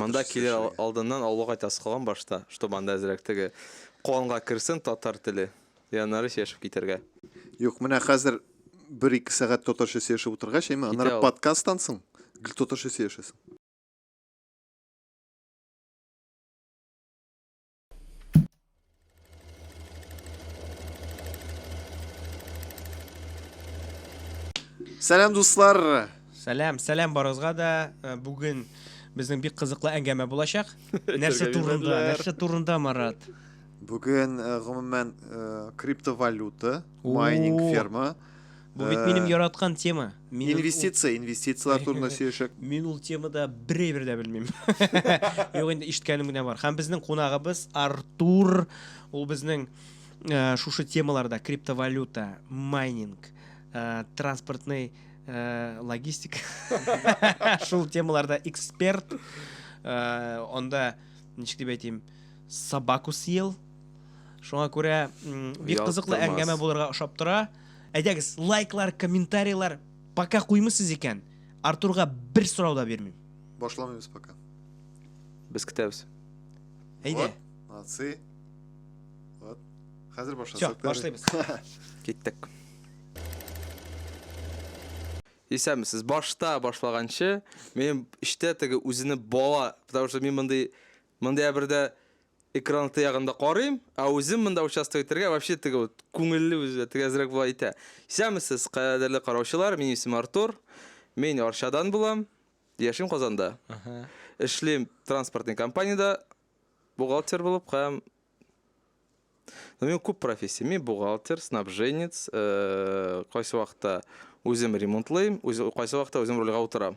Монда килер алдыннан авылга кайтасы калган башта, чтобы анда әзрәк теге канга керсен татар теле. И аннары сөйләшеп китәргә. Юк, менә хәзер бер-ике сәгать татарча сөйләшеп утыргач, әйме, аннары подкасттан соң гел татарча сөйләшәсең. Сәлам дуслар. Сәлам, сәлам барыгызга да. Э, бүген безнең бик кызыклы әңгәмә булачак. Нәрсә турында? Нәрсә турында, Марат? Бүген э, гомумән э, криптовалюта, майнинг ферма Бу бит минем э, яраткан тема. Мин инвестиция, ул... инвестицияләр турында сөйләшәк. Мин ул темада берәйбер дә белмим. Юк инде ишеткәнем генә бар. Һәм безнең кунагыбыз Артур, ул безнең э, шушы темаларда криптовалюта, майнинг, э, транспортный э, логистика. Шул темаларда эксперт. Э, онда ничек дип әйтим, собаку съел. Шуңа күрә бик кызыклы әңгәмә булырга ошап тора. Әйдәгез, лайклар, комментарийлар пока куймыйсыз икән, Артурга бер сорау да бирмим. Башламыйбыз пока. Без көтәбез. Әйдә. Вот, молодцы. Вот. Хәзер башласак. Всё, башлыйбыз. Киттек. Исәнмесез. Башта башлаганчы, минем эчтә теге үзене бала, потому что мин мондый мондый әбердә Экран тыягында карыйм, ә үзем монда участок итәргә вообще теге вот күңелле үзе дә теге әзрәк була итә. Исәнмесез, кадерле караучылар, минем исемем Артур. Мин Арчадан булам. Яшим Казанда. Эшлим транспортный компаниядә бухгалтер булып һәм Ну, мин күп профессия. Мин бухгалтер, снабженец, э, кайсы вакытта үзем ремонтлыйм, үз- кайсы вакытта үзем рульга утырам.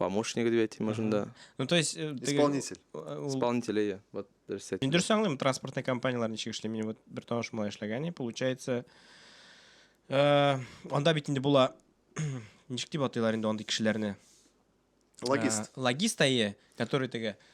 Помощник дип әйтим шунда. Ну, то есть... Э, Исполнитель. Э, Исполнитель, иә. Вот, дөрес әйттең. Дөрес аңлыйм, транспортный компаниялар ничек эшли. Минем вот бер таныш малай эшләгән, получается... Э, анда бит инде була... Ничек дип атыйлар инде андый кешеләрне? Логист. Логист әйе, который теге...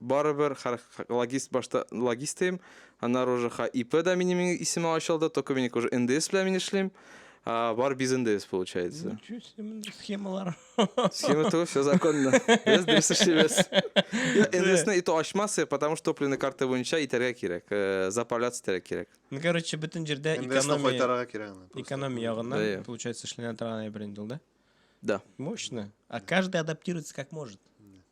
барыбер хәр логист башта логистым аннары уже ха ип да минем исеме ачылды только минеке уже ндс белән мин эшлим бар без ндс получается схемалар схема то все законно без дөрес эшлибез ндсны и то ачмасы потому что топливный карта буенча итәргә кирәк э, заправляться итәргә кирәк ну короче бөтен җирдә экономия экономия ягыннан получается эшләнә торган әйбер инде ул да да мощно а каждый адаптируется как может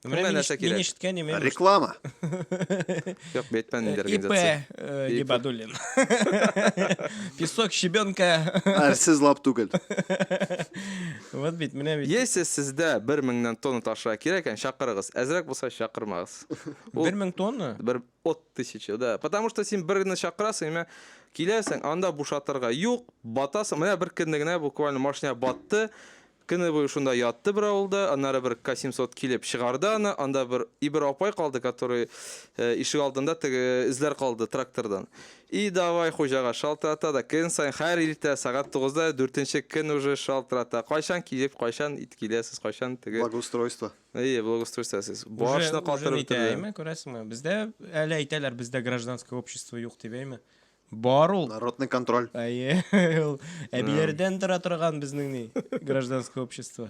Менә Менә мин нәрсә ишет- мин кирәк. ишеткән имеш. Реклама. Юк, Бэтмен инде ИП организация. э, ИП. Гибадуллин. Песок, щебенка. Әрсез лап түгел. Вот бит, менә бит. Если сездә бер меңнән тонна ташырга кирәк икән, чакырыгыз. Әзрәк булса чакырмагыз. Ул- Бер мең тонна? Бер от тысячи, да. Потому что син бер генә чакырасың, имә киләсең, анда бушатырга юк, батасың. Менә бер көнне генә буквально машина батты. Көне буе шунда ятты бер авылда, аннары бер Касимсот килеп чыгарды аны, анда бер и бер апай калды, который ишек алдында теге эзләр калды трактордан. И давай хуҗага шалтырата да көн саен хәр иртә сәгать тугызда дүртенче көн уже шалтырата, кайчан килеп, кайчан ит киләсез, кайчан теге. Благоустройство. Ие, благоустройство сез. Башны катырып бетерде. Әйме, күрәсеңме? Бездә әле әйтәләр, бездә гражданское общество юк дип әйме. Бар ул. Народный контроль. Әйе, ул әбиләрдән тора торган безнең ни, гражданское общество.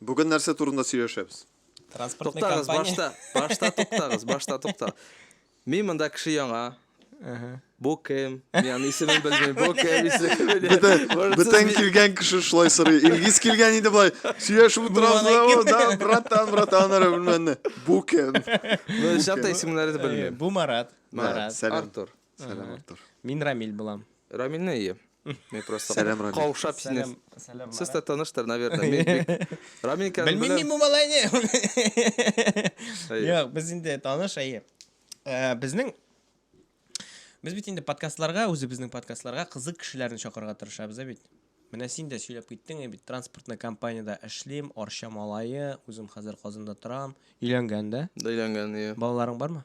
Бүген нәрсә турында сөйләшәбез? Транспортный Туктагыз, компания. башта, башта туктагыз, башта тукта. Мин монда кеше яңа. Бу кем? Мин аны исемен белмим. Бу кем? Исемен белмим. Бөтен, Может, сез бөтен ми- килгән кеше шулай сорый. Илгиз килгән иде былай. Сөйләшеп утырабыз да, Булган о, да, братан, братан, ара белмәнне. Бу кем? Ну, чакта исемнәрен Әйе, белмим. Бу Марат. Марат. Сәлам. Артур. Сәлам, Ага. Артур. Мин Рамиль булам. Рамилне ие. Мин просто Сәлам, Рамиль. каушап сине. Сәлам, сәлам. Сез дә таныштыр, наверное. Мин бик- Рамиль икәнен Белмим беләм. мин бу малайны. Әйе. Юк, без инде таныш, әйе. Э, Безнең Без бит инде подкастларга, үзебезнең подкастларга кызык кешеләрне чакырырга тырышабыз, ә бит. Менә син дә сөйләп киттең, ә бит транспортный компаниядә эшлим, Арча малае, үзем хәзер Казанда торам, өйләнгән дә. Да өйләнгән, ие. Балаларың бармы?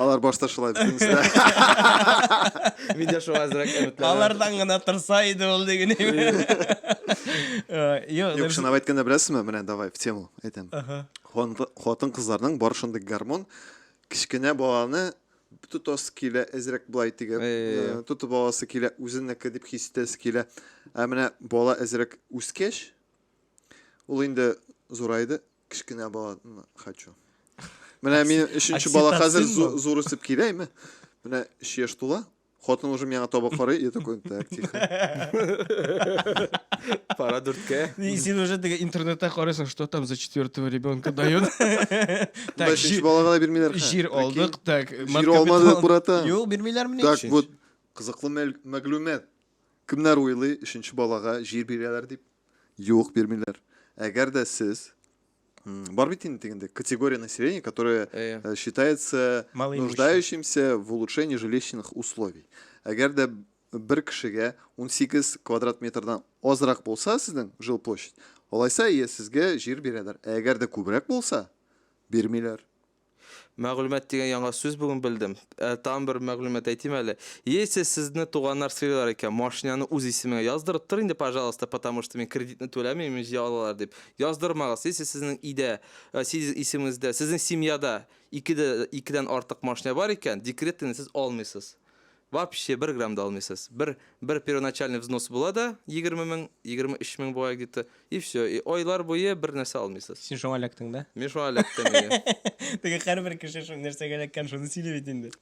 Алар башта шулай битенсә. Мин дә шуңа әзрәк өметләнәм. Алардан гына торса иде ул диген. Юк, шуны әйткәндә беләсезме, менә давай в тему әйтәм. Хатын кызларның бар шундый гормон кечкенә баланы тотасы килә, әзрәк былай тигән. Тотып аласы килә, үзеннәке дип хис итәсе килә. Ә менә бала әзрәк үскәч, ул инде зурайды, кечкенә баланы хочу менә мин өченче бала хәзер зур үсеп киләме менә өч яшь тула хатын уже миңа таба карый и такой так тихо пора дүрткә и син уже теге интернетта карыйсың что там за четвертого ребенка дают так өченче балага да бирмиләр җир алдык так җир алмады аккурата юк бирмиләрмени так вот кызыклы мәгълүмат кемнәр уйлый өченче балага җир бирәләр дип Юк, бирмиләр. Әгәр дә сез Бар бит инде дигәндә категория населения, которая э, э, считается нуждающимся в улучшении жилищных условий. Әгәр дә бер кешегә 18 квадрат метрдан азрак булса сезнең жил площадь, алайса е сезгә җир бирәләр. Ә әгәр дә күбрәк булса, бирмиләр. Мәгълүмат дигән яңа сүз бүген белдем. Ә, тагын бер мәгълүмат әйтим әле. Если сезне туганнар сыйлар икән, машинаны үз исемеңә яздырып тор инде, пожалуйста, потому что мин кредитны түләмим, имеш, җыя алалар дип. Яздырмагыз. Если сезнең өйдә, ә, сез исемегездә, сезнең семьяда ике дә, икедән артык машина бар икән, декретныйны сез алмыйсыз. Вообще бер грамм да алмыйсыз. Бер бер первоначальный взнос була да, егерме мең, егерме өч мең була где-то, и все. И айлар буе бер нәрсә алмыйсыз. Син шуңа эләктең да? Мин шуңа эләктем. Теге һәрбер кеше шул нәрсәгә эләккән, шуны сөйли бит инде.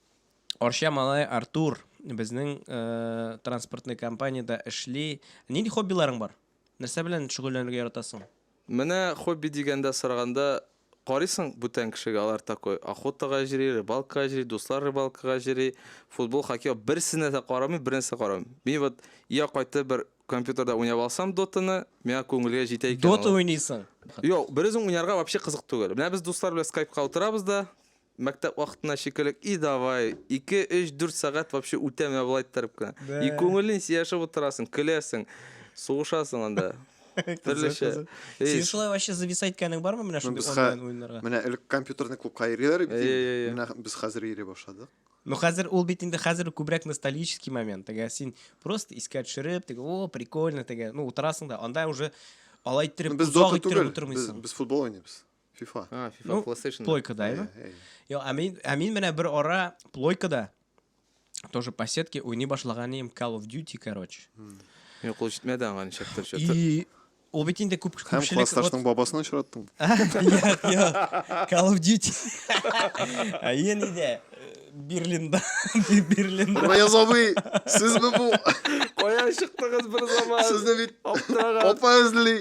Арча малай Артур безнең э, транспортный компаниядә эшли. Нинди хоббиларың бар? Нәрсә белән шөгыльләнергә яратасың? Менә хобби дигәндә сораганда, карыйсың, бүтән кешегә алар такой, охотага җри, рыбалкага җри, дуслар рыбалкага җри, футбол, хоккей, берсенә дә карамыйм, бернәрсә дә карамыйм. Мин вот я кайтып бер компьютерда уйнап алсам дотаны, миңа күңелгә җитә икән ул. Дота уйныйсың? Юк, берүзең уйнарга вообще кызык түгел. Менә без дуслар белән скайпка утырабыз да, Мәктәп вакытына шикелек, и давай, ике, өч, дүрт сәгать вообще үтә менә болай иттереп кенә. Бә. И күңелен сөйләшеп утырасың, көләсең, сугышасың анда. Төрлечә. Син шулай вообще зависать иткәнең бармы менә шундый без онлайн уеннарга? Менә элек компьютерный клубка йөриләр бит. Менә без хәзер йөри башладык. Ну хәзер ул бит инде хәзер күбрәк ностальгический момент. Теге син просто искә төшереп, теге о, прикольно, теге, ну утырасың да, анда уже алай иттереп, без дота түгел, без, без футбол уйныйбыз. FIFA. А, FIFA ну, PlayStation. Плойка, да, ими? Йо, а мин, а мин менә бер ара плойка да. Тоже по сетке уйный башлаган им Call of Duty, короче. Йо, кул җитмәде аңа ничек төр чөтер. И ул бит инде күп күпчелек. Һәм классташның бабасын очраттың. Йо, йо. Call of Duty. А ен иде. Берлинда. Берлинда. Раяз абый, сез бу? Кая чыктыгыз бер заман? Сезне бит. Апа эзли.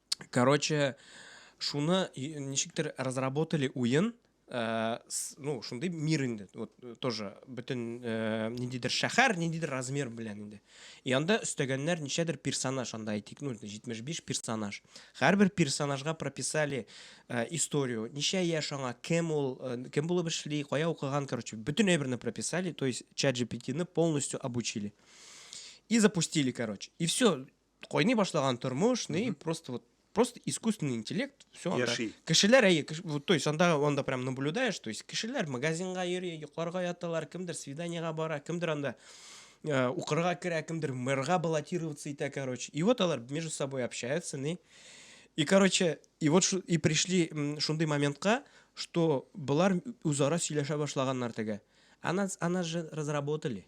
короче шуны ничектер разработали уен э, ну шундый мир инде вот э, тоже бөтен э, ниндидер шәһәр ниндидер размер белән инде и анда өстәгәннәр ничәдер персонаж анда әйтик ну 75 персонаж һәрбер персонажга прописали э, историю ничә яшь аңа кем ул э, кем булып эшли кая укыган короче бөтен әйберне прописали то есть чат gpt полностью обучили и запустили короче и все кайный башлаган тормыш, ни, просто вот просто искусственный интеллект, все анда. Яши. Кешеләр, әйе, кеш, вот, то есть анда, анда прям наблюдаешь, то есть кешеләр магазинга йөри, йокларга яталар, кемдер свиданиега бара, кемдер анда э, укырга керә, кемдер мэрга баллотироваться итә, короче. И вот алар между собой общаются, не? И, короче, и вот шу- и пришли м, шундый моментка, что болар үзара сөйләшә башлаганнар теге. Она, она же разработали.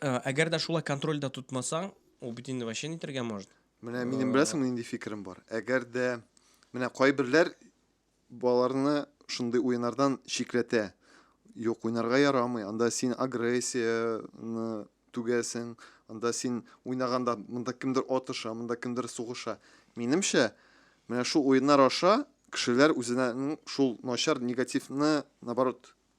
Э, әгәр дә шулай контрольдә тотмасаң ул бит инде вообще нитергә может менә минем э, беләсеңме нинди фикерем бар әгәр дә менә кайберләр балаларны шундый уеннардан чикләтә юк уйнарга ярамый анда син агрессияны түгәсең анда син уйнаганда монда кемдер атыша монда кемдер сугыша минемчә менә шул уеннар аша кешеләр үзенең шул начар негативны наоборот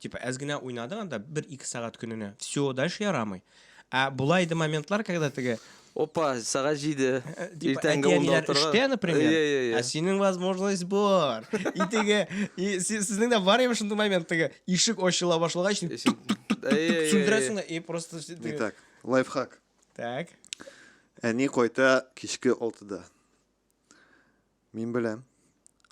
Типа әз генә уйнадың анда бер-ике сәгать көненә. Все, дальше ярамый. Ә була иде моментлар, когда теге Опа, сәгать җиде. Э, типа, Иртәнге унда әти-әниләр утырга. эштә, например, Иә, иә, иә. ә синең возможность бар. И теге, и си- сезнең дә бар име шундый момент, теге ишек ачыла башлагач, син Ишек- Иә, иә, иә, иә. сүндерәсең дә, и просто все- Не теге- так. Лайфхак. Так. Әни кайта кичке алтыда. Мин беләм.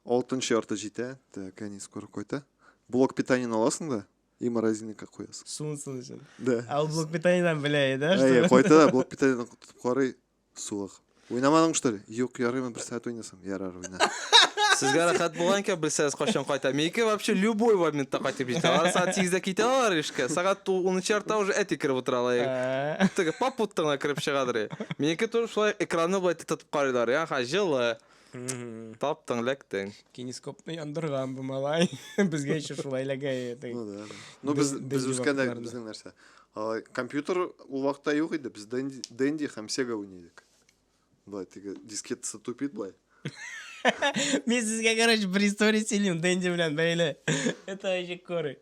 Алтынчы ярты җитә. Так, әни скоро кайта. Блок питаниене аласың да, и морозильникка куясың. Суынсын өчен. Да. Ә ул блок питаниедан белә иде, да? Әйе, кайта да блок питаниедан тотып карый, суык. Уйнамадың что ли? Юк, ярыймы бер сәгать уйнасам. Ярар, уйна. Сезгә рәхәт булган икән, белсәгез кайчан кайта. Минеке вообще любой моментта кайтып җитә. Алар сәгать 8-дә китә алар эшкә. Сәгать 10 яртыда уже әти кереп утыра ала. Ә. Теге попуттыңа кереп чыгадыр. Минеке туры шулай экранны болай тотып карыйлар. Я, ха, җылы. Таптың, ләктең. Кинескопны яндырган бу малай. Безгә еще шулай ләгәе. Ну да. Ну без без үскәндә безнең нәрсә? Компьютер ул вакытта юк иде. Без Денди һәм Sega уйный идек. Болай теге дискетасы тупит болай. Мен сізге, короче, бір история сөйлеймін Дэнди белән бәйле. Это вообще коры.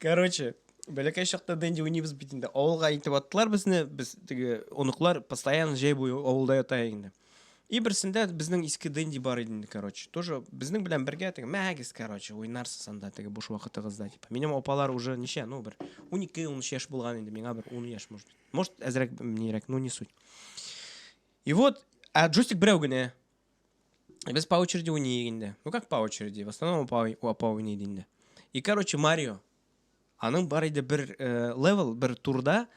Короче, бәләкәй чакта Дэнди уйнайбыз бит инде. Авылга итеп аттылар безне. Без теге оныклар постоянно җәй буе авылда ята инде. И берсендә безнең иске Дэнди бар иде инде, короче. Тоже безнең белән бергә теге мәгез, короче, уйнарсыз анда теге буш вакытыгызда дип. Минем апалар уже ничә, ну бер 12-13 яшь булган инде, миңа бер 10 яшь, может. Может, әзрәк, минерәк, ну не суть. И вот, а джойстик берәү генә. Без по очереди уйный инде. Ну как по очереди? В основном по, по уйный инде. И, короче, Марио. Аның бар иде бер э, левел, бер турда.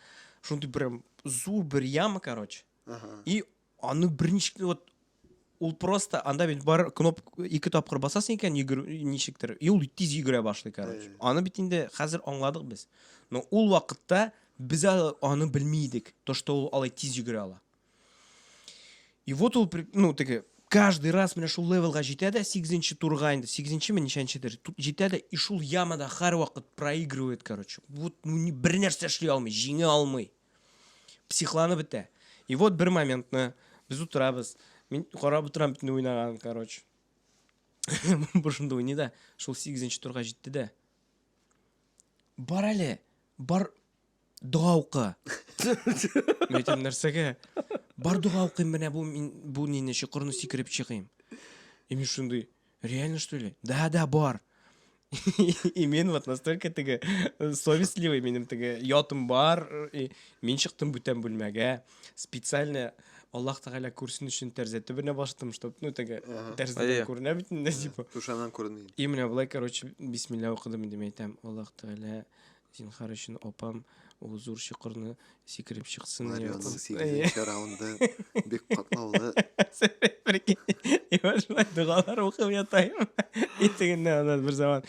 Шундай прям зур бер яма, короче. Ага. И аны берничек вот ул просто анда бит бар кноп ике тапкыр басасың икән йөгер ничектер и ул тиз йөгерә башлый короче аны бит инде хәзер аңладык без но ул вакытта Без әле аны белми идек, то, что ул алай тиз йөгерә ала. И вот ул, ну, теге, каждый раз менә шул левелга җитә дә, 8 турга инде, 8 ме ничәнчедер, җитә дә, и шул ямада һәрвакыт проигрывает, короче. Вот, ну, ни, бер нәрсә эшли алмый, җиңә алмый. Психланып бетә. И вот бер моментны, без утырабыз, мин карап утырам бит уйнаган, короче. Бушында уйный да, шул 8 турга җитте дә. Бар әле, бар дога укы. Мин әйтәм, нәрсәгә? Бар дога укыйм, менә бу мин бу нине чокырны сикереп чыгыйм. И мин шундый, реально что ли? Да, да, бар. И мин вот настолько теге совестливый минем теге ятым бар. И мин чыктым бүтән бүлмәгә. специально Аллах Тәгалә күрсен өчен тәрзә төбенә бастым, чтобы, ну, теге тәрзәдән Әйе. күренә бит инде, типа. Түшәмнән күренми. И менә болай, короче, бисмилла укыдым инде, мин әйтәм, Аллах Тәгалә, зинхар өчен апам ул зур чокырны сикереп чыксын. Марионың сигезенче раунды бик катлаулы. Прикинь, и вот шулай догалар укып ятайым. И тегеннән аннан бер заман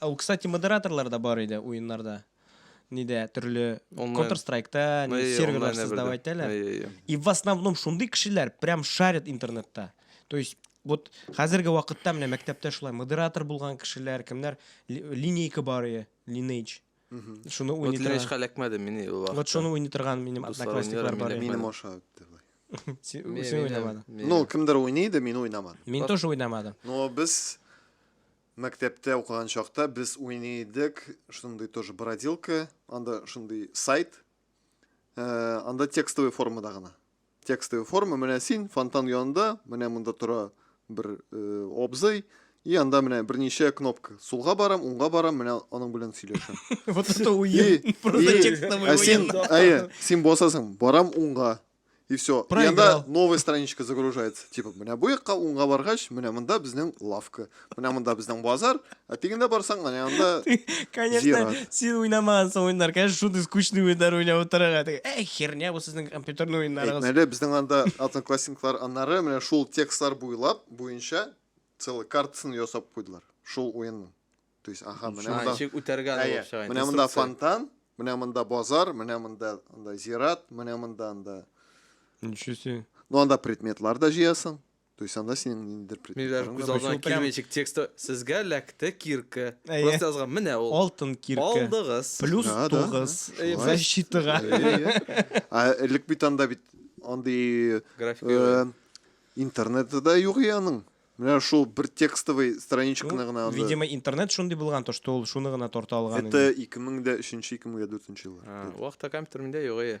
Ә ул, кстати, модераторлар да бар иде уеннарда. Нидә, төрле Онлайн. Counter Strike'та Әйе, не серверлар онлайн создавать әбердә. итәләр. Әйе, әйе. И в основном шундый кешеләр прям шарят интернетта. То есть вот хәзерге вакытта менә мәктәптә шулай модератор булган кешеләр, кемнәр ли- линейка бар иде, Lineage. Шуны уйный торган. Ләшкә эләкмәде мин ул вакытта. Вот шуны уйный торган минем одноклассниклар бар. Минем аша үтте бай. Син уйнамадың. Ну, кемдер уйный иде, мин уйнамадым. Мин тоже уйнамадым. Но без мәктәптә укыган чакта без уйный идек, шундый тоже бродилка, анда шундый сайт. Э, анда текстовый формада гына. Текстовый форма, менә син фонтан янында, менә монда тора бер э, абзый, и анда менә берничә кнопка. Сулга барам, уңга барам, менә аның белән сөйләшәм. Вот это уен. Просто текстовый уен. Әйе, син басасың, барам уңга. И все. И анда новая страничка загружается. Типа, менә бу якка уңга баргач, менә монда безнең лавка. Менә монда безнең базар. Ә тегендә барсаң, менә анда Конечно, син уйнамагансың уеннар. Конечно, шундый скучный уеннар уйнап утырырга. Эй, херня бу сезнең компьютерный уеннарыгыз. Әйтмәле, безнең анда одноклассниклар аннары менә шул текстлар буйлап, буенча целый картасын ясап куйдылар. Шул уенның. То есть, аха, менә монда. Ничек үтәргә алып Менә монда фонтан, менә монда базар, менә монда анда зират, менә монда анда. Ничего себе. Ну анда предметлар да җыясың. То есть анда синең ниндидер предметларың күз алдына килмәячек тексты сезгә ләкте кирка просто язган менә ул алтын кирка алдыгыз плюс тугыз защитага а элек бит анда бит андый э, интернеты да юк и аның менә шул бер текстовый страничканы ну, гына анда видимо интернет шундый булган то что ул шуны гына тарта алган это ике мең дә өченче ике мең дә дүртенче еллар вахта компьютер миндә юк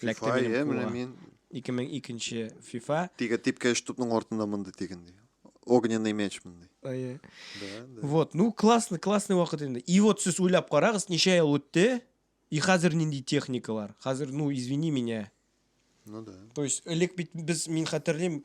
FIFA, Фләктә минем менә мин. 2002 FIFA. Тиге типкә эш тупның артында монда тиген ди. Огненный меч монда. Ай. Вот, ну классно, классный вакыт инде. И вот сез уйлап карагыз, ничә ел үтте? И хәзер нинди техникалар? Хәзер, ну извини меня. Ну да. То есть элек бит без мин хәтерлим,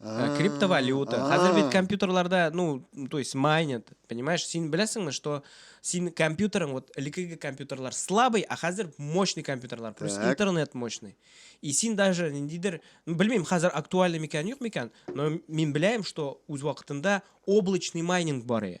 Э, криптовалюта. Хәзер бит компьютерларда, ну, то есть майнят, понимаешь? Син беләсеңме, что син компьютерың, вот элекеге компьютерлар слабый, а хәзер мощный компьютерлар, просто интернет мощный. И син даже ниндидер, ну, белмим, хәзер актуальный микән, юк микән, но мин беләем, что үз вакытында облачный майнинг бар иде.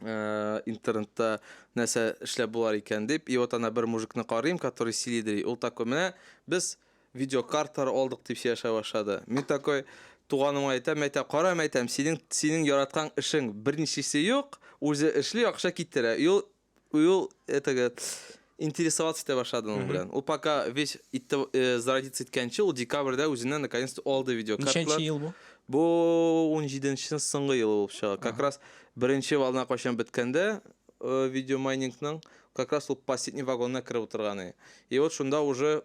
Э, интернетта нәрсә эшләп булар икән дип и вот ана бер мужикны карыйм который силидри ул такой менә без видеокарталар алдык дип сөйләшә башлады мин такой туганыма әйтәм әйтә кара әйтәм синең синең яраткан эшең берничесе юк үзе эшли акча китерә и ул и ул этага Интересоваться итә башлады аның белән. Ул пока весь итте э, зародиться иткәнче, ул декабрьдә үзенә наконец то алды видеокарталар. Ничәнче ел бу? Бу 17-нче соңгы елы булып чыга. Как раз беренче волна кайчан беткәндә э, видеомайнингның, как раз ул последний вагонына кереп утырган иде. И вот шунда уже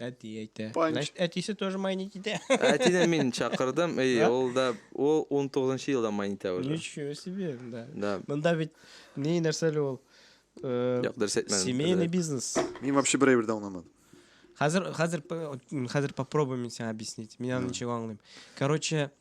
Әти әйтә. Панч. Значит, әтисе тоже майнить итә. Әтине мин чакырдым, и Да? ул да ул 19 елда майнитә уже. Ничего себе, да. Да. Монда бит ни нәрсәле ул? Э, Юк, дөрес әйтмәдем. Семейный Дөрес. бизнес. Мин вообще бер әйбер дә аңламадым. Хәзер хәзер п- м, хәзер попробуй мин сиңа объяснить. Мин аны ничек аңлыйм. Короче,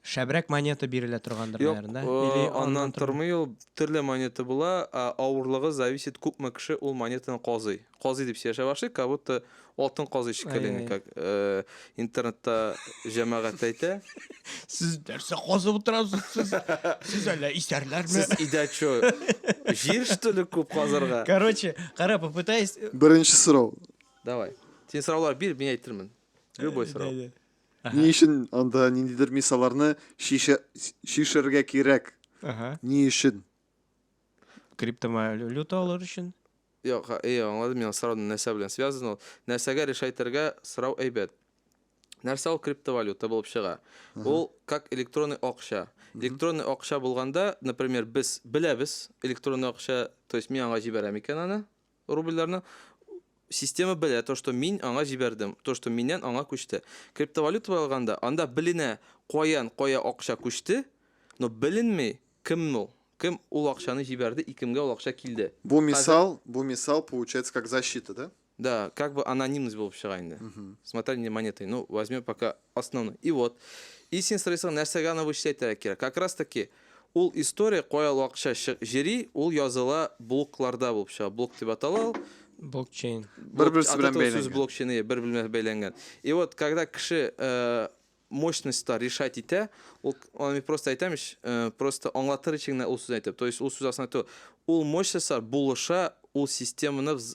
Шәбрәк монета бирелә торгандыр, Юк, наверное, да? Или аннан аннан тормый? тормый ул, төрле монета була, а, авырлыгы зависит, күпме кеше ул монетаны казый. Казый дип сөйләшә башлый, как будто алтын казый шикелле, Ай-яй. как э, интернетта җәмәгать әйтә. Сез нәрсә казып утырасыз сез? Сез әллә исәрләрме? Сез идә чё, җир что ли күп казырга? Короче, кара, попытаюсь... Беренче сорау. Давай. Син сораулар бир, мин әйтермен. Любой сорау. Да, да. Ни өчен анда ниндидер мисаларны чишәргә кирәк? Ни өчен? Криптовалюта алыр өчен? Юк, и, аңладым мин сораудын нәрсә белән связан ул. Нәрсәгә решайтергә сорау әйбәт. Нәрсә ул криптовалюта булып чыга? Ул как электронный акча. Электронный акча булганда, например, без беләбез электронный акча, то есть мин аңа җибәрәм икән аны, рубльләрне система белә, то, что мин аңа җибәрдем, то, что миннән аңа күчте. Криптовалюта алганда, анда беленә, каян кая акча күчте, но беленми, кем ул, кем ул акчаны җибәрде и кемгә ул акча килде. Бу мисал, бу мисал получается как защита, да? Да, как бы анонимность булып чыга инде. С мотанием монеты, ну, возьмем пока основной. И вот, и син сорыйсың, нәрсәгә аны вычислять кирәк? Как раз таки, Ул история кая вакытча чы җери, ул языла блокларда булып чыга. Блок дип атала ул. Блокчейн. Блок- Бер-берсе от белән этого сүз бәйләнгән. блокчейн, иә, бер белән бәйләнгән. И вот, когда кеше э, мощностьта решать итә, ул, аны мин просто әйтәм ич, э, просто аңлатыр өчен генә ул сүзне әйтәм. То есть ул сүз астында то, ул мощностьлар булыша, ул системаны вз-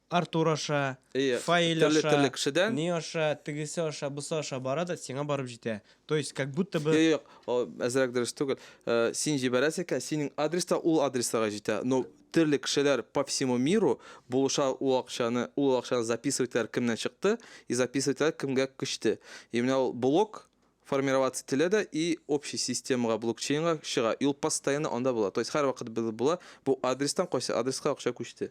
Артур аша, Фаиль аша, ни аша, тегесе аша, бусы аша бара да, сиңа барып җитә. То есть, как будто бы... Юк, юк, әзрәк дөрес түгел. Син җибәрәсең икән, синең адрес та ул адресага җитә. Но төрле кешеләр по всему миру булыша ул акчаны, ул акчаны записывателләр кемнән чыкты и записывателләр кемгә күчте. И менә ул блок формироваться ителә дә и общий системага, блокчейнга чыга. И ул постоянно анда була. То есть һәрвакыт була. Бу адрестан кайсы адреска акча күчте.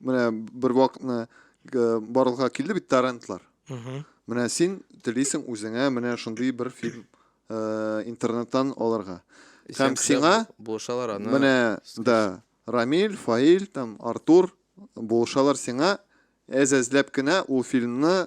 менә бер вакытны барлыкка килде бит торрентлар менә син телисең үзеңә менә шундый бер фильм э, интернеттан алырга һәм сиңа булышалар аны менә да рамиль фаиль там артур булышалар сиңа әз әзләп кенә ул фильмны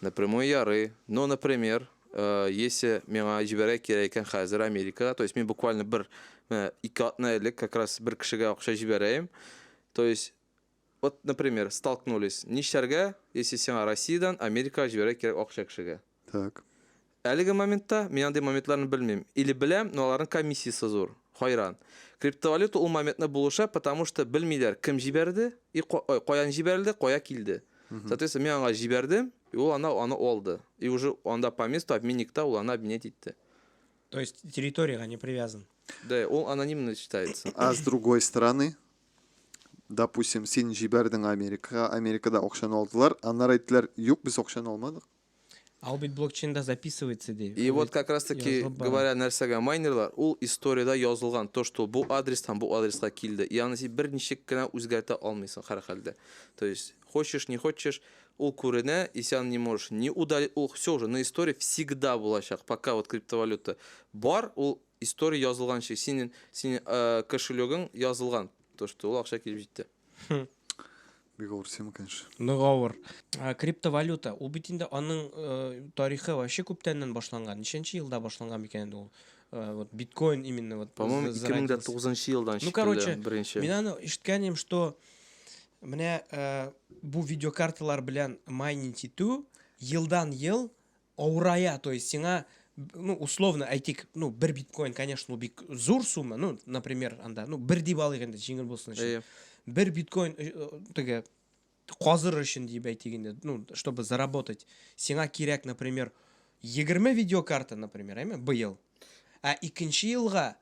Напрямую ярый, но например, если миңа җибәрә кирәк икән хәзер Америкага, то есть мин буквально бер менә ике атна элек как раз бер кешегә акча җибәрәем, то есть вот например столкнулись, нишләргә, если сиңа Россиядән Америкага җибәрә кирәк акча кешегә? Так. Әлеге моментта мин андый моментларны белмим, или беләм, но аларның комиссиясе зур. Хайран. Криптовалюта ул моментны булыша, потому что белмиләр кем җибәрде и ой, каян җибәрелде, кая килде. Соответственно, мин аңа җибәрдем и ул ана аны алды. И уже анда по месту обменникта ул аны обменять итте. То есть территориягә не привязан. Да, ул анонимный считается. А с другой стороны, допустим, син җибәрдең Америкага, Америкада акчаны алдылар, аннары әйттеләр, юк, без акчаны алмадык. А ул бит блокчейнда записывается ди. И вот как раз таки говоря нәрсәгә майнерлар, ул историядә язылган то, что бу адрестан бу адреска килде. Ягъни син бер ничек кенә үзгәртә алмыйсың һәр хәлдә. То есть хочешь не хочешь ул күренә, и сян не можешь не удалить, ул все уже на истории всегда булачак, пока вот криптовалюта бар, ул история язылганчы, синең синең э, кошелегың язылган, то что ул акча килеп җитте. Хм. Бик авыр тема, конечно. Нык авыр. Ә, Криптовалюта. Ул бит инде аның э, тарихы вообще күптәннән башланган. Ничәнче елда башланган микән инде ул? Э, вот биткоин именно вот. По-моему, за- зародился. 2009 елдан Ну, короче, шикелле беренче. Мин аны ишеткән идем, что менә э, бу видеокарталар белән майнинг итү елдан ел Авырая, то есть сиңа ну, условно әйтик, ну, бер биткоин, конечно, ул бик зур сумма, ну, например, анда, ну, бер дип алыйк инде, җиңел булсын өчен. Әйе. Бер биткоин э, э, теге казыр өчен дип әйтик инде, ну, чтобы заработать. Сиңа кирәк, например, 20 видеокарта, например, әйме, быел. Ә икенче елга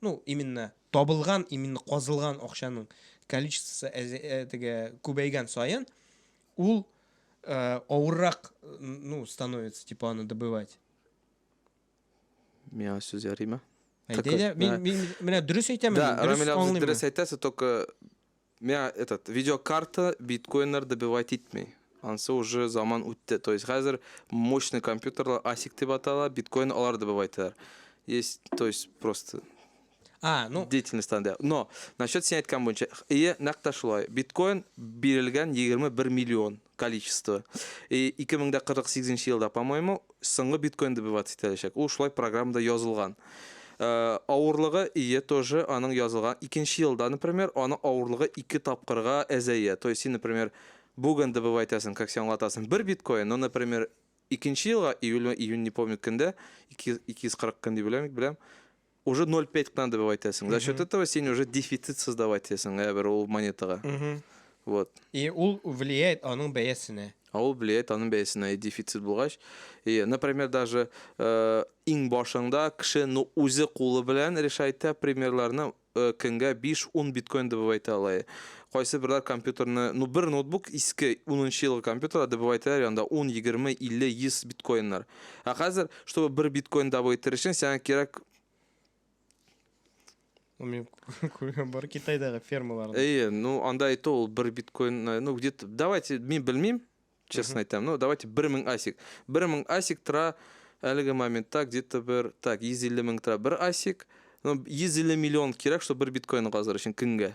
ну именно табылган именно казылган акчаның количествосы теге күбәйгән саен ул э, авыррак ну становится типа аны добывать миңа сүз ярыймы әйдә мин менә дөрес әйтәмен да рамил абзый дөрес әйтәсе только Миңа этот видеокарта биткоиннар добивать итми. Ансы уже заман үтте. То есть хәзер мощный компьютерлар асик дип атала, биткоин алар добивайталар. Есть, то есть просто А, ну, деятельность анда. Но насчет син әйткән буенча, ие, нәкъ тә шулай. Биткоин бирелгән 21 миллион. количество и 2048 елда по моему соңгы биткоин добываться ителәчәк ул шулай программада язылган Э, авырлыгы ие тоже аның язылган икенче елда например аны авырлыгы ике тапкырга әзәя то есть син например бүген добывай итәсең как сен аңлатасың бер биткоин но например икенче елга июль июнь не помню кендә 240 көн дип беләм беләм уже ноль пять кына добавить итәсең. За счет этого син уже дефицит создавать итәсең ә бер ул монетага. Вот. И ул влияет аның бәясенә. А ул влияет аның бәясенә и дефицит булгач. И, например, даже э, иң башыңда кеше ну үзе кулы белән решает та примерларны э, көнгә 5-10 биткоин добывать итә ала. Кайсы берләр компьютерны, ну бер ноутбук иске 10 елгы компьютер добывать итәләр янда 10, 20, 50, 100 биткоиннар. Ә хәзер, чтобы бер биткоин добыть итер өчен, сиңа кирәк Ну, мин күргән бар Китайдагы фермаларны. Әйе, ну, анда әйтте ул бер биткоин, э, ну, где-то, давайте, мин белмим, честно әйтәм, ну, давайте бер мең асик. Бер мең асик тора әлеге моментта где-то бер, так, 150 мең тора бер асик, ну, 150 миллион кирәк, чтобы бер биткоин казыр өчен көнгә.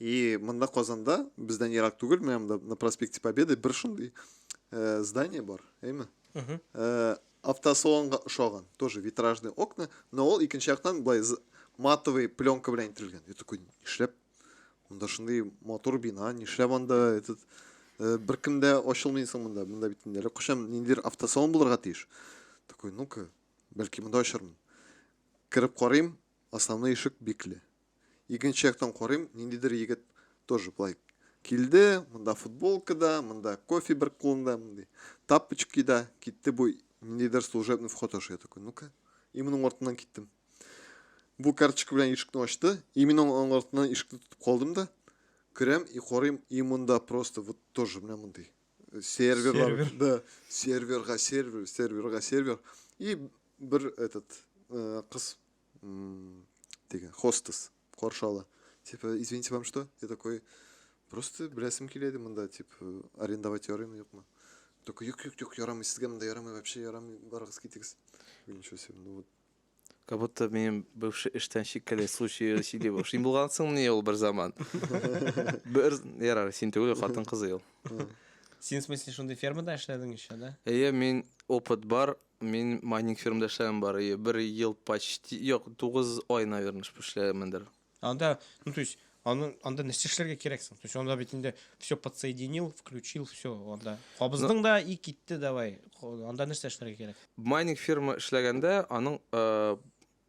И монда Казанда, бездән ерак түгел, менә монда на проспекте Победы бер шундый э, здание бар, әйме? Э, автосалонга ошаган, тоже витражные окна, но ул икенче яктан былай матовый пленка белән ителгән. Я такой, нишләп? Монда шундый матур бина, нишләп анда этот э, беркем дә ачылмый соң монда? Монда бит инде кошам ниндидер автосалон булырга тиеш. Такой, ну-ка, бәлки монда ачармын. Кереп карыйм, основной ишек бикле. Икенче яктан карыйм, ниндидер егет тоже болай килде, монда футболка да, монда кофе бер кулында, мондый тапочки да, китте бу ниндидер служебный вход аша, я такой, ну-ка, и моның артыннан киттем. Бу карточка белән ишекне ачты, и мин аның артыннан ишекне тотып калдым да, керәм и карыйм, и монда просто вот тоже менә мондый серверлар, сервер. да, серверга сервер, серверга сервер, и бер этот э, кыз деген хостес каршы ала типа извините вам что я такой просто беләсем килә иде монда типа э, арендовать ярыймы юкмы только юк юк юк ярамый сезгә монда ярамый вообще ярамый барыгыз китегез ничего себе ну вот как будто менин бывший эштен чиккәле случай сөйли башлый син булгансың мени ул бер заман бер ярар син түгел хатын кызы ул син в смысле шундый фермада эшләдең еще да әйе мин опыт бар Мин майнинг фирмда эшләгән бар, и бер ел почти, юк, 9 ай, наверное, шп эшләгәнмендер. Анда, ну, то есть, аны, анда нәрсә эшләргә кирәк соң? То есть, анда бит инде все подсоединил, включил, все, анда. Кабыздың да и китте, давай. Ко- Анда нәрсә эшләргә кирәк? Майнинг фирма эшләгәндә, аның э,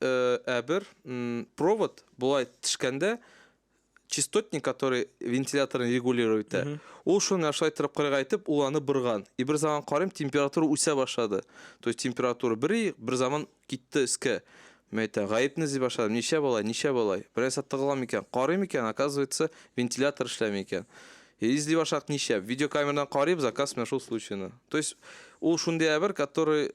Ә бер провод болай тишкәндә частотник, который вентиляторны регулировать итә, ул шуны менә шулай трубкага әйтеп, ул аны борган. И бер заман карыйм, температура үсә башлады. То есть температура бер и бер заман китте өскә. Мин әйтәм, гаепне эзли башладым. Ничә болай, ничә болай? Берәрсә тыгыла микән? Карый микән? Оказывается, вентилятор эшләми икән. И эзли башладык ничә? Видеокамерадан карыйбыз, оказывается, менә шул случайны. То есть ул шундый әйбер, который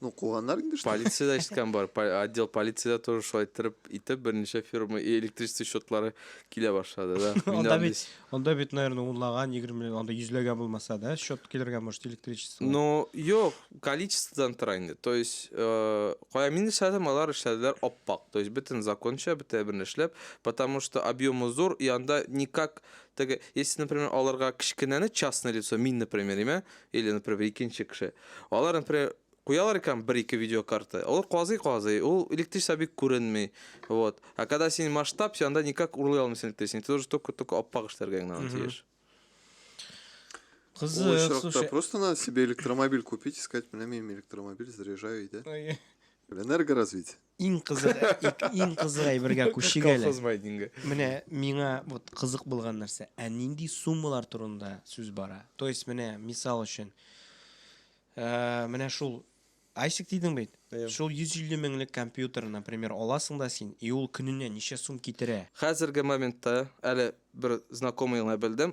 Ну, куганнар инде что. Полициядә ишеткән бар. Отдел полициядә тоже шулай иттереп итеп берничә фирма электричество счетлары килә башлады, да. Анда бит, анда бит, наверное, унлаган, егерме, анда йөзләгән булмаса, да, счет килергә может электричество. Ну, юк, количестводан тора инде. То есть, э, кая мин эшләдем, алар эшләделәр аппак. То есть, бөтен законча, бөтен бер эшләп, потому что объемы зур, и анда никак теге, если, например, аларга кечкенәне частное лицо, мин, например, имә, Или, например, бер икенче кеше. Алар, например, куялар икән бер-ике видеокарта. Алар казый-казый, ул электричество бик күренми. Вот. А когда син масштаб, син анда никак урлый алмыйсың электричество. Ты должен только-только аппак эшләргә генә аны тиеш. Кызык, Ой, шракта, слушай. Просто надо себе электромобиль купить и сказать, бля, мен электромобиль заряжаю, и да? Ой. Бля, энергоразвитие. Иң кызык, иң кызык әйбергә күчик әле. Колхоз майнинга. Менә миңа вот кызык булган нәрсә, ә нинди суммалар турында сүз бара? То есть менә мисал өчен, э, менә шул Айсик дидең бит. Шул 150 меңлек компьютер, например, аласың да син, и ул көненә ничә сум китерә? Хәзерге моментта әле бер знакомыйны белдем,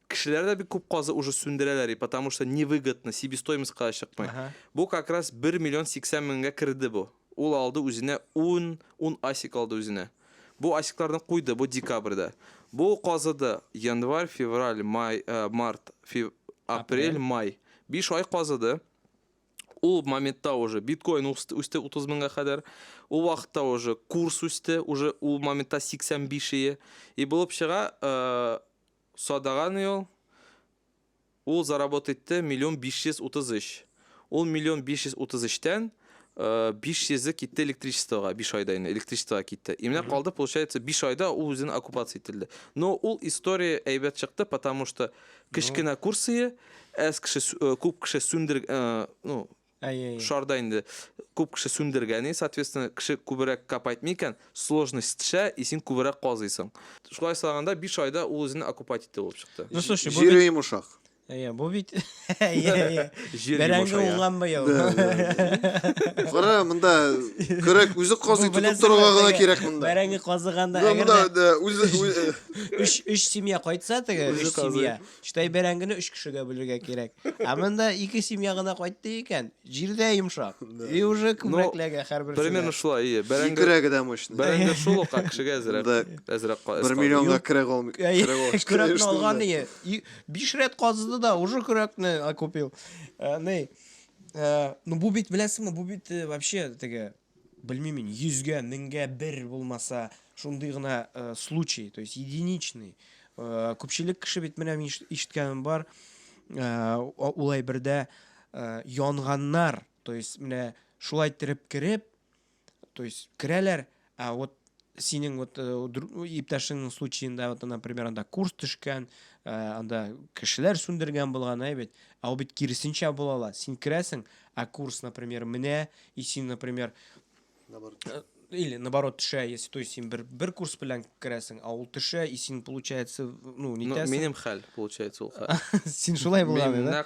Кешеләр дә бик күп казы уже сүндерәләр и потому что не выгодно, себестоимостька да чыкмый. Ага. Бу как раз бер миллион сиксән меңгә керде бу. Ул алды үзенә ун, ун асик алды үзенә. Бу асикларны куйды, бу декабрьдә. Бу казыды январь, февраль, май, э, март, фев, апрель, Апрель. май. Биш ай казыды. Ул моментта уже биткоин үсте, үсте 30 меңгә кадәр. Ул вакытта уже курс үсте, уже ул моментта 85 ие. И булып чыга, э, Садаган ел ул заработ итте миллион 533. Ул миллион 533 тән 500 е китте электричествога, 5 айда инде электричествога китте. И менә калды, получается, 5 айда ул үзен оккупация ителде. Но ул история әйбәт чыкты, потому что кечкенә курсые, әз кеше, күп кеше сүндер, ну, Әйе. Шар да инде күп кеше сүндергән и, соответственно, кеше күберәк кап әйтми икән, сложность төшә, и син күберәк казыйсың. Шулай сайлаганда 5 айда ул үзенең окупать итте булып чыкты. Ну слушай, бу Җире йомшак. Әйе, бу бит Бәрәңге уңган быел. Кара, монда көрәк үзе казый тотып торырга гына кирәк монда. Бәрәңге казыганда әгәр дә үз 3 3 семья кайтса теге 3 семья, Чытай бәрәңгене өч кешегә бүлергә кирәк. Ә монда ике семья гына кайтты икән, җирдә йомшак. И уже күбрәкләргә һәрберсенә. Примерно шулай, ие. Бәрәңге Икрәге дә мощный. бәрәңге шул ук, ә кешегә әзрәк. Да. Әзрәк ка- Бер эс миллионга көрәк алм- Әй, көрәк алып чыгып Көрәкне йөрсен алган дә. ие. И- Биш рәт казыды да, уже көрәкне окупил. Ә, Ни, ә, ну бу бит, беләсеңме, бу бит э, вообще теге, Белмим мин, йөзгә, меңгә бер булмаса, шундый гына э, случай, то есть единичный. Э, Күпчелек кеше бит менә мин иш- ишеткәнем бар, э, о- ул әйбердә э, янганнар, то есть менә шулай иттереп кереп, то есть керәләр, ә вот синең вот э, иптәшеңнең случаенда вот например анда курс төшкән э, анда кешеләр сүндергән булган ә бит ә ул бит киресенчә була ала син керәсең ә курс например менә и син например э, или наоборот төшә если то есть син бер бер курс белән керәсең ә ул төшә и син получается ну не ну, минем хәл получается ул хәл син шулай булган да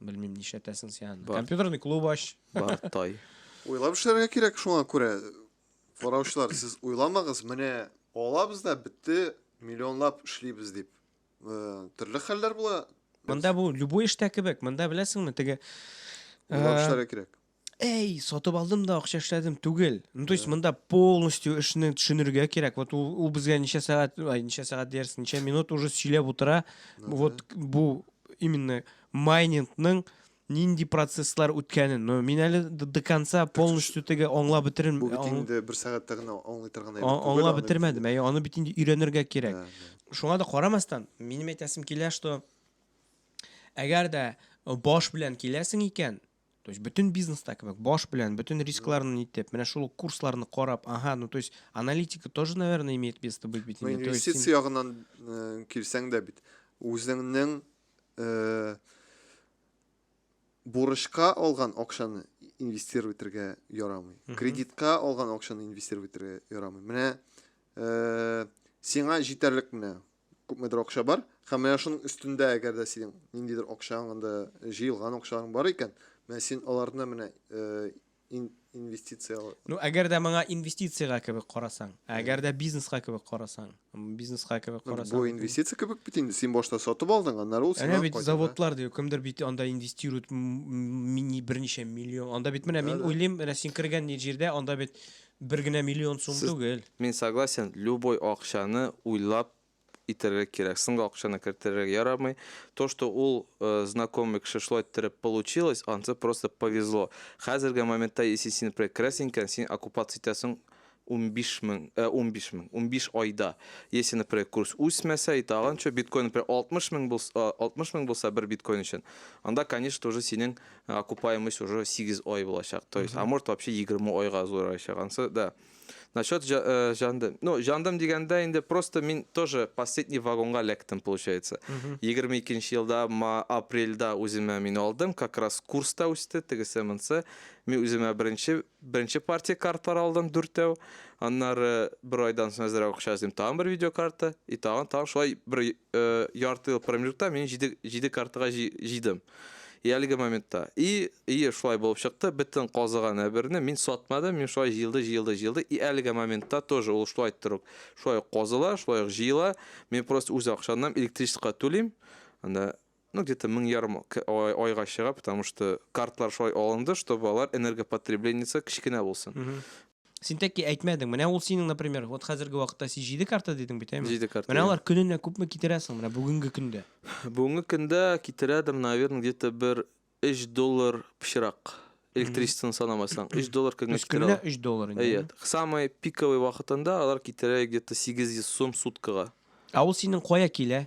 Белмим, нишләтәсең син аны. Компьютерный клуб ач. Бартай. Уйлап эшләргә кирәк шуңа күрә. Караучылар, сез уйламагыз, менә алабыз да бетте, миллионлап эшлибез дип. Э, төрле хәлләр була. Монда бу любой эштә кебек. Монда беләсеңме, теге Уйлап э, эшләргә кирәк. Әй, сатып алдым да акча эшләдем түгел. Ну, то есть монда полностью эшне төшенергә кирәк. Вот ул, ул безгә ничә сәгать, ай, ничә сәгать диясең, ничә минут уже сөйләп утыра. Вот бу именно майнингның нинди процесслар үткәнен. Но мин әле д- до конца полностью теге аңлап бетерен Бу бит ан- инде бер сәгатьтә генә аңлый торган әйбер ан- түгел аңлап аны. бетермәдем. Әй, аны бит инде өйрәнергә кирәк. Да, да. шуңа да карамастан минем әйтәсем килә что әгәр дә баш белән киләсең икән То есть бөтен бизнеста кебек, баш белән, бөтен рискларны нитеп, менә шул ук курсларны карап, ага, ну то есть аналитика тоже, наверное, имеет место быть бит. инде. То есть Инвестиция син- ягыннан э, килсәң дә бит, үзеңнең э, бурычка алган акчаны инвестировать итәргә ярамый. Мгм. Кредитка алган акчаны инвестировать итәргә ярамый. Менә э, сиңа җитәрлек менә күпмедер акча бар һәм менә шуның өстендә әгәр дә синең ниндидер акчаң анда җыелган акчаң бар икән менә син аларны менә инвестиция ну әгәр дә моңа инвестициягә кебек карасаң ә әгәр дә бизнеска кебек карасаң бизнеска кебек карасаң бу инвестиция кебек бит инде син башта сатып алдың аннары ул сиңа бит заводлар ди кемдер бит анда инвестирует берничә миллион анда бит менә мин уйлыйм менә син кергән җирдә анда бит Бер генә миллион сум түгел. Мин согласен, любой акчаны уйлап итәргә кирәк, соңгы акчаны кертергә ярамый, то что ул знакомый кеше шулай иттереп получилось, ансы просто повезло, хәзерге моментта если син например керәсең икән, син окупаться итәсең унбиш мең, ә унбиш мең, унбиш айда, если например курс үсмәсә и тагын чо, биткоин например алтмыш мең булса, алтмыш мең булса бер биткоин өчен, анда конечно уже синең окупаемость уже сигез ай булачак то есть а может вообще егерме айга озгырачак анысы да насчет э, жандым ну жандым дигәндә инде просто мин тоже последний вагонга эләктем получается егерме икенче елда апрельда үземә мин алдым как раз курста үсте тегесе монсы мин үземә беренче беренче партия картлар алдым дүртәү аннары бер айдан соң әзрәк акча эзлим тагын бер видеокарта и тагын тагын шулай бер ярты ел промежутта мин җиде, җиде картага җыйдым. И әлеге моментта. И, и шулай булып чыкты, бөтен казыган әберне мин сатмадым, мин шулай җыелды, җыелды, җыелды. И әлеге моментта тоже ул шулай торып, шулай казыла, шулай җыела. Мин просто үз акчамнан электричествога түлим. Анда ну где то мең ярым айга чыга потому что картлар шулай алынды чтобы алар энергопотреблениясы кечкенә булсын Син тәки әйтмәдең. Менә ул синең, например, вот хәзерге вакытта син 7 карта дидең бит, әйме? 7 карта. Менә алар көненә күпме китерә соң менә бүгенге көндә? Бүгенге көндә китерәдер, наверное, где-то бер 3 доллар пычрак. Электричествоны санамасаң, 3 доллар көнгә китерә. Көненә 3 доллар инде. Әйе. Самый пиковый вакытында алар китерә где-то 800 сум суткага. Ә ул синең кая килә?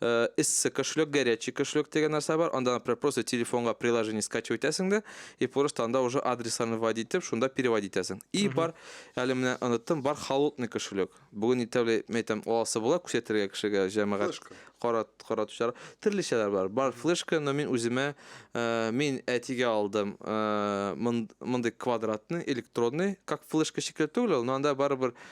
эссе кошелек, горячий кошелек дигән нәрсә бар. Анда, например, просто телефонга приложение скачивать итәсең дә, и просто анда уже адресларны вводить итеп, шунда переводить итәсең. И бар, әле менә оныттым, бар холодный кошелек. Бүген итәүле, мен әйтәм, аласы була күрсәтергә кешегә, җәмәгать. Флешка. Карат, каратучылар. Төрлечәләр бар. Бар флешка, но мин үземә, э, мин әтигә алдым, э, мон- мондый квадратный, электронный, как флешка шикелле түгел ул, но анда барыбер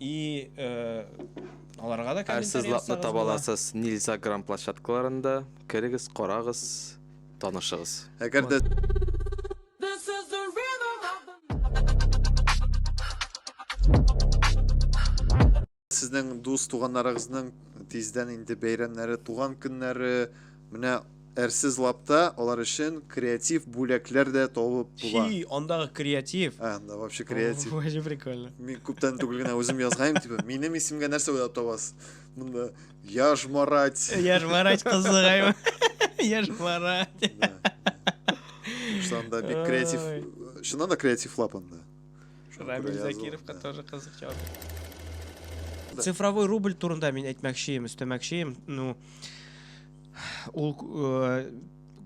И э, аларга да комментарий Әрсез лапны ясагыз таба була. аласыз Нильзаграм площадкаларында. Керегез, карагыз, танышыгыз. Әгәр дә This is the rhythm of the сезнең дус туганнарыгызның тиздән инде бәйрәмнәре, туган көннәре, Менә әрсез лапта алар өчен креатив бүләкләр дә табып була. Чи, андагы креатив. Ә, анда вообще креатив. Вообще прикольно. Мин күптән түгел генә үзем язгайм, типа, минем исемгә нәрсә уйлап табасыз? Монда Яжмарать. Яжмарать кызыгайм. Яжмарать. Шунда бик креатив. Шунда да креатив лап анда. Рамил Шукур Закировка Аязов, да. тоже кызык җавап бирде. Цифровой рубль турында мин әйтмәкчеем, өстәмәкчеем. Ну, ул э,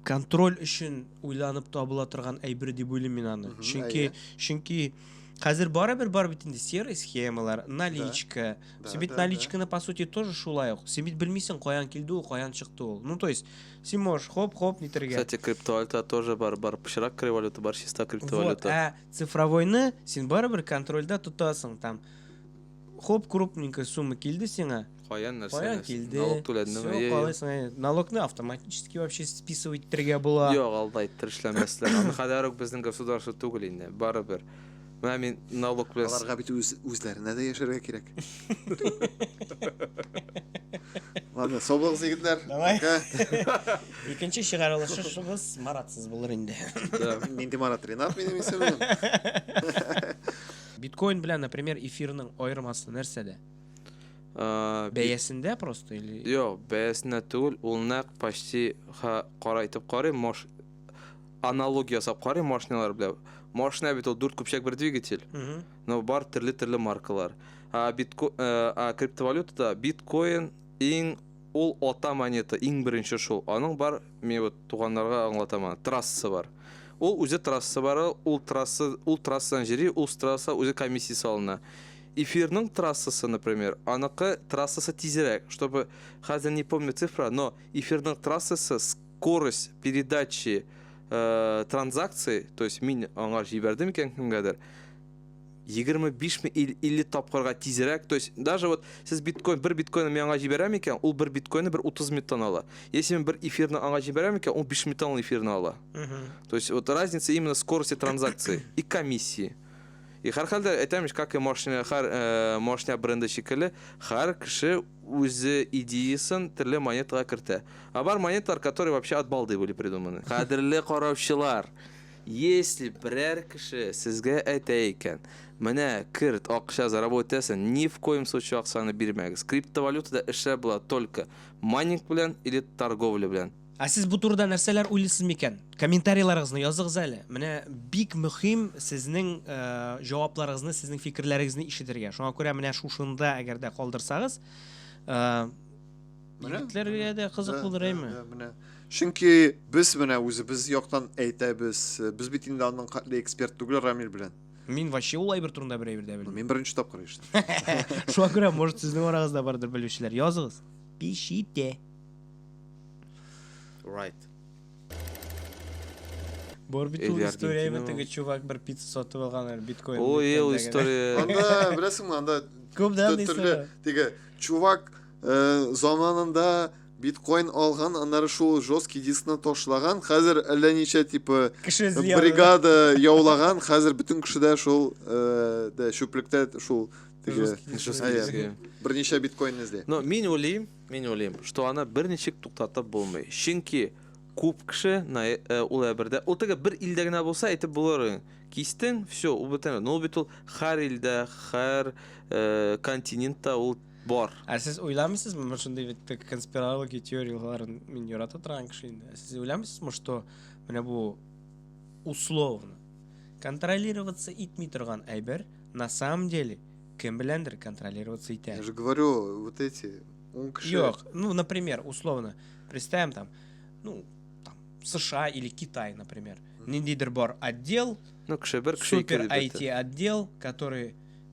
контроль өчен уйланып табыла торган әйбер дип уйлыйм мин аны. Мгм, Чөнки әйе. чөнки хәзер барыбер бар бит инде серый схемалар, наличка. Да, Син бит да, да. наличканы по сути тоже шулай ук. Син бит белмисең каян килде ул, каян чыкты ул. Ну, то есть, син можешь хоп-хоп нитергә. Кстати, криптовалюта тоже бар, бар пычрак криптовалюта, бар чиста Вот, криптовалюта. ә Цифровойны син барыбер контрольдә тотасың, там хоп крупненькая сумма килде сиңа. Каян нәрсә? Каян килде? Налог түләдеңме? Все, калайсың. Э, налогны автоматически вообще списывать итәргә була. Юк, алда иттер эшләмәсләр. Аны хәләр үк безнең государство түгел инде, барыбер. Менә мин налог белән... Аларга бит үз, үзләренә дә яшәргә кирәк. Ладно, саулыгыз, егетләр. Давай. Икенче чыгарылышыбыз Маратсыз булыр инде. Нинди Марат Ренат минем исемем. Биткоин белән, например, эфирның аермасы нәрсәдә? Бәясендә просто или? Юк, бәясендә түгел, ул нәкъ почти кара итеп карый, мош аналогия ясап карый машиналар белән. Машина бит ул дүрт көпчәк бер двигатель. Но бар төрле-төрле маркалар. А битко а криптовалютада биткоин иң Ул ата монета иң беренче шул. Аның бар, мин вот туганнарга аңлатам аны, трассасы бар. Ул үзе трассасы бары, ул трасса, ул трассадан җери, ул страса үзе комиссия салына. Эфирның трассасы, например, аныкы трассасы тизрәк, чтобы, хәзер не помню цифра, но эфирның трассасы с скорость передачи э, транзакций, то есть мин аңар җибәрдем икән кемгәдер, 25 ми ил 50 тапкырга тизрәк. То есть даже вот сез биткоин бер биткоинны мен аңа җибәрәм икән, ул бер биткоинны бер 30 минуттан ала. Если мен бер эфирны аңа җибәрәм икән, ул 5 минуттан ул эфирны ала. То есть вот разница именно скорости транзакции и комиссии. И һәрхәлдә әйтәм ич, как и машина, һәр э, машина бренды шикелле, һәр кеше үзе идеясын төрле монетага кертә. А бар монеталар, которые вообще от балды были придуманы. Кадерле караучылар, Если берәр кеше сезгә әйтә икән, менә керт, акча заработаесын, ни в коем случае акчаны бирмәгез, криптовалютада эшләр була только майнинг белән или торговля белән. Ә сез бу турыда нәрсәләр уйлыйсыз микән? Комментарийларыгызны языгыз әле. Менә бик мөхим сезнең җавапларыгызны, сезнең фикерләрегезне ишетергә. Шуңа күрә менә шушында әгәр дә калдырсагыз, Егетләргә дә кызык булыр әйме? Менә. Чөнки без менә үзебез яктан әйтәбез. Без бит инде аның хәтле эксперт түгел Рамил белән. Мин вообще ул әйбер турында бер әйбер дә белмим. Мин беренче тапкыр ишеттем. Шуңа күрә, может, сезнең арагызда бардыр белүчеләр. Языгыз. Пишите. Right. Бор бит ул история әйме теге чувак бер пицца сатып алган биткоин. Ой, ул история. Анда, беләсеңме, анда Күп дә анда история. Теге чувак заманында биткоин алган, аннары шул жесткий дискны ташлаган. Хәзер әллә ничә типы бригада яулаган. Хәзер бөтен кешедә шул дә чүплектә шул берничә биткоин эзли. Но мин уйлыйм, мин уйлыйм, что аны берничек туктатып булмый. Чөнки күп кеше ул әбердә, ул теге бер илдә генә булса әйтеп булыр. Кистең, все, ул бөтен. Но бит ул һәр илдә, һәр континентта ул Бар. Ә сез уйламыйсызмы, мин шундый бит конспирология теорияләрен мин ярата торган кеше инде. Ә сез уйламыйсызмы, что менә бу условно контролироваться итми торган әйбер на самом деле кем беләндер контролироваться итә. Я же говорю, вот эти он кеше. Юк, ну, например, условно, представим там, ну, там, США или Китай, например. Ниндидер бар отдел, ну, кеше, супер IT отдел, который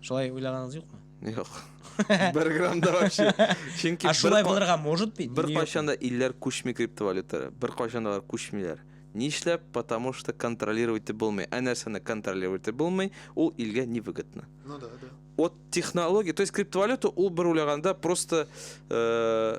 Шулай уйлаганыгыз юкмы? Юк. Бер грамм да вообще. Чөнки Ә шулай булырга может бит. Бер кайчан да илләр күчми криптовалюталар. Бер кайчан да күчмиләр. Нишләп? Потому что контролировать итеп булмый. Ә нәрсәне контролировать итеп булмый, ул илгә не выгодно. Ну да, да. Вот технология, то есть криптовалюта ул бер уйлаганда просто э,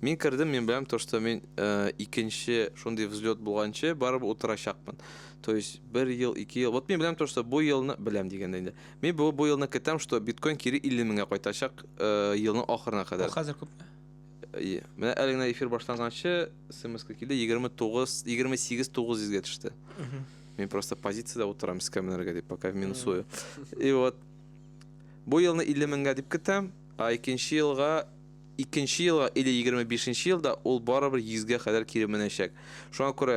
Мин кердем, мин беләм то, что мин э, икенче шундый взлет булганчы барып утырачакмын. То есть бер ел, ике ел. Вот мин беләм то, что бу елны беләм дигәндә инде. Мин бу бу елны көтәм, что биткоин кире 50 меңгә кайтачак э, елның ахырына кадәр. Хәзер күп. Ие. Менә әле генә эфир башланганчы смс килде 29 28 900-гә төште. Мин просто позициядә утырам скамнерга дип, пока минусую. И вот бу елны 50 меңгә дип көтәм, а икенче елга Икенче елга или егерме бишенче елда ул барыбер йөзгә кадәр кире менәчәк. Шуңа күрә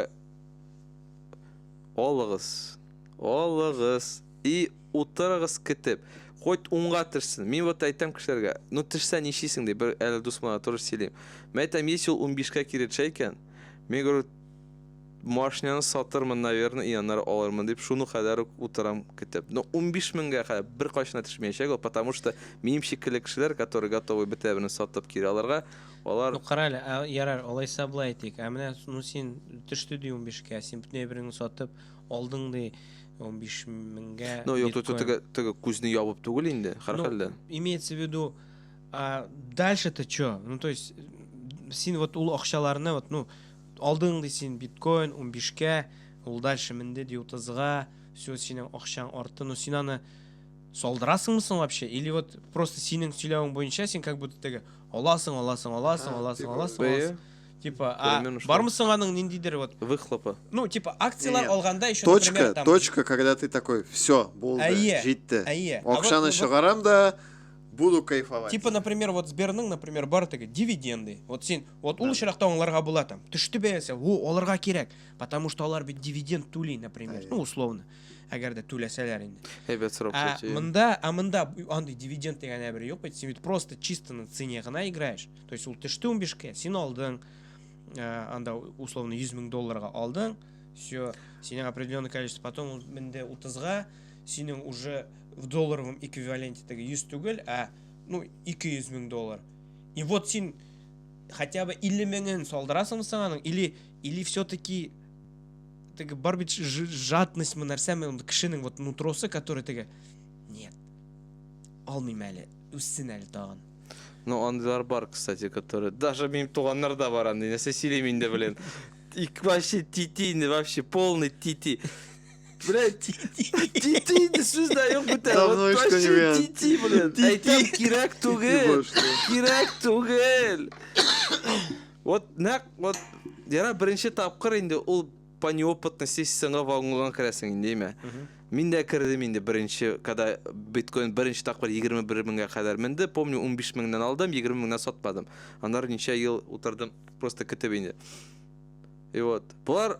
алыгыз, алыгыз и утырыгыз кетеп. Хоть унга тешсен. Мин вот әйтәм кешеләргә, ну тешсә нишлисең ди, бер әле дусмана тоже сөйлим. Мин әйтәм, если ул унбишкә кире тешә икән, мин говорю, Машинаны сатырмын, наверное, и аннары алырмын дип, шуны кадәр үк утырам көтеп. Но унбиш меңгә кадәр беркайчан да төшмәячәк ул, потому что минем шикелле кешеләр, которые готовы бөтә берне сатып кире алырга, алар... Ну, кара әле, ә, ярар, алайса болай әйтик, ә менә, ну, син төште ди унбишкә, син бөтенләй береңне сатып алдың ди унбиш меңгә биткоин. Ну, юк, тут теге, теге күзне ябып түгел инде, һәрхәлдә. Ну, имеется в виду, а дальше-то чё? Ну, то есть, син вот ул акчаларны, вот, ну, Алдың ди син биткоин унбишкә, ул дальше менде ди утызга, все синең акчаң арты, ну син аны салдырасыңмы соң вообще, или вот просто синең сөйләвең буенча син как будто теге аласың, аласың, аласың, Ха, аласың, типа, аласың, бәя? аласың, типа, а Поймем, что. бармы соң аның ниндидер вот, Выхлопы. ну типа акциялар Нет. алганда еще Точка, например там, точка, когда ты такой, все, булды, Әйе, җитте. әйе. А вот- Акчаны вот- чыгарам да, Буду кайфовать. Типа, например, вот Сберның, например, бар теге дивиденды. Вот син, вот ул очракта аңларга була там. Төште бәясе, во, алырга кирәк. Потому что алар бит дивиденд түли, например. Ну, условно. Әгәр дә түләсәләр инде. Әйбәт сорап А чәчәем. монда, а монда бу- андый дивиденд дигән әбер юк бит. Син бит просто чисто на цене гына играешь. То есть ул төште 15 ке, син алдың. э, Анда условно 100 мең долларга алдың. Все, синең определенное количество. Потом ул менде 30-га, синең уже в долларовом эквиваленте теге 100 түгел, ә ну 200 мең доллар. И вот син хотя бы 50 меңен салдырасың соң аның или или все-таки теге бар бит жадность мы нәрсәме ул кешенең вот нутросы который теге нет алмыйм әле үссен әле тагын ну андыйлар бар кстати который даже минем туганнар да бар андый нәрсә сөйлим инде блин и вообще тити инде вообще полный тити Блядь, тити сүз дә юк бүтән. Давно Вот точно ишетмәгән. тити белән. Тити. Әйтәм, кирәк түгел. Кирәк түгел. Вот нәкъ вот яра беренче тапкыр инде ул по неопытности сиңа вагонга керәсең инде, әйме? Мин дә кердем инде беренче, когда биткоин беренче тапкыр 21 меңгә кадәр менде. Помню, 15 меңнән алдым, 20 меңнән сатмадым. Аннары ничә ел утырдым, просто көтеп инде. И вот. Болар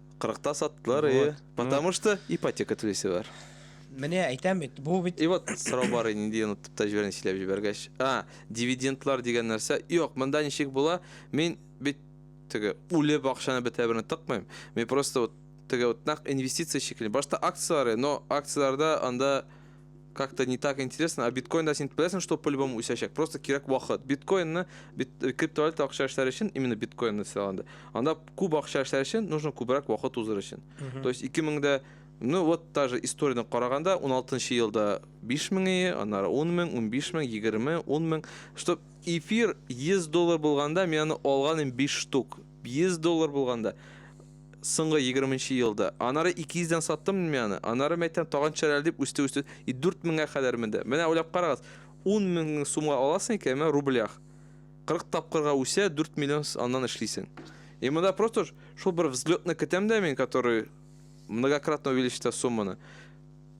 Кырыкта саттылар, Вот, и потому что ипотека түлисе бар. Менә әйтәм бит, бу бит И вот сорау бар иде, нинди онытып та җибәргән сөйләп җибәргәч. А, дивидендлар дигән нәрсә. Юк, монда ничек була? Мин бит теге үле бакчаны бетә берне тыкмыйм. Мин просто вот теге вот нәкъ инвестиция шикелле. Башта акцияләре, но акцияләрдә анда как-то не так интересно. А биткоин да син беләсең, что по-любому үсәчәк. Просто кирәк вакыт. Биткоинны бит, э, криптовалюта акча эшләр өчен, именно биткоинны сайланды. Анда күп акча эшләр өчен нужно күбрәк вакыт узыр өчен. То есть 2000-дә Ну вот та же историяны караганда 16 елда 5 меңе, аннары 10 мең, 15 мең, 20 мең, 10 мең. Что эфир 100 доллар булганда, мен аны алганым 5 штук. 100 доллар булганда. Соңгы егерменче елда. Анары ике йөздән саттым мин аны. Анары мәйтәм тагын чәрәл дип үсте үсте и дүрт меңгә кадәр менде. Менә уйлап карагыз, ун мең сумга аласың икән, менә рублях кырык тапкырга үсә, дүрт миллион аннан эшлисең. И монда просто шул бер взлетны көтәм дә мин, который многократно увеличится сумманы.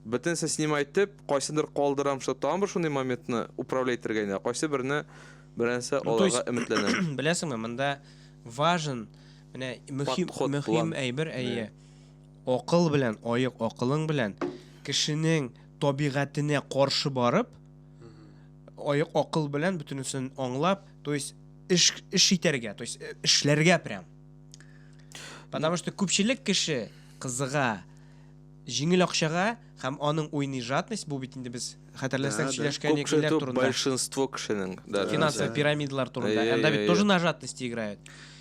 Бөтенесен снимай итеп, кайсындыр калдырам, что тагын бер шундый моментны управлять итәргә инде, кайсы берне беренче алырга өметләнәм. Беләсеңме, монда важен Менә мөһим, Подход мөһим план. әйбер, әйе. Акыл белән, аек акылың белән кешенең табигатенә каршы барып, аек акыл белән бөтенесен аңлап, то есть эш эш итәргә, то есть э, эшләргә прям. Потому что күпчелек кеше кызыга җиңел акчага һәм аның уйный жадность, бу бит инде без хәтерләсәң сөйләшкән Күп кеше икеләр түгел, турында. большинство кешенең. даже. Финансовый пирамидалар турында. Әйе, Анда бит әйе. тоже на жадность играют.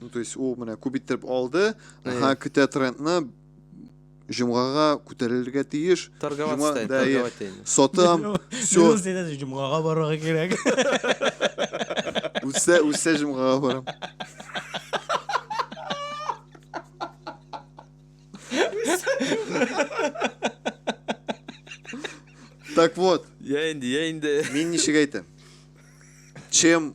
Ну, то есть ул менә күп иттереп алды, ага, көтә трендны, җомгага күтәрелергә тиеш. Торговать тайм, торговать тайм. Сатам, все. Минус дидән җомгага барырга кирәк. Үсә, үсә җомгага барам. Так вот. Я инде, я инде. Мин ничек әйтәм? Чем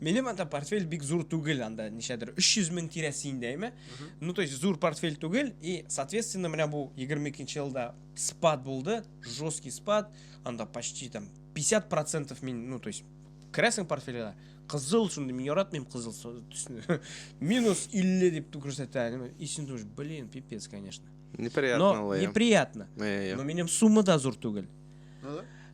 Минем анда портфель бик зур түгел, анда ничәдер 300 мең тирәсе инде, әйме? Ну, то есть зур портфель түгел, и, соответственно, менә бу 22 нче елда спад булды, жесткий спад, анда почти там 50% мин, ну, то есть керәсең портфельгә, кызыл шундый, мин яратмыйм кызыл төсне. Минус 50 дип күрсәтә, и син думаешь, блин, пипец, конечно. Неприятно, Но неприятно. Но минем сумма да зур түгел. Ну да.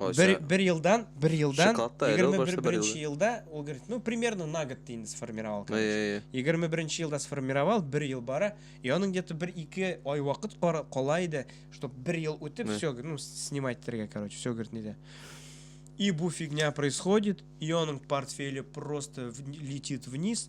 Ой, Бер, сэ- бер елдан, бер елдан, Шоколадта әле ул 21 башта бер беренче елдан. елда, ул говорит, ну, примерно на год ты инде сформировал, Ай, короче. ай, ай. 21 елда сформировал, бер ел бара, и аның где-то бер ике ай вакыт кара- кала иде, чтоб бер ел үтеп, Да. все, ну, снимать тергә, короче, все, говорит, нидә. И бу фигня происходит, и аның портфеле просто вни- летит вниз,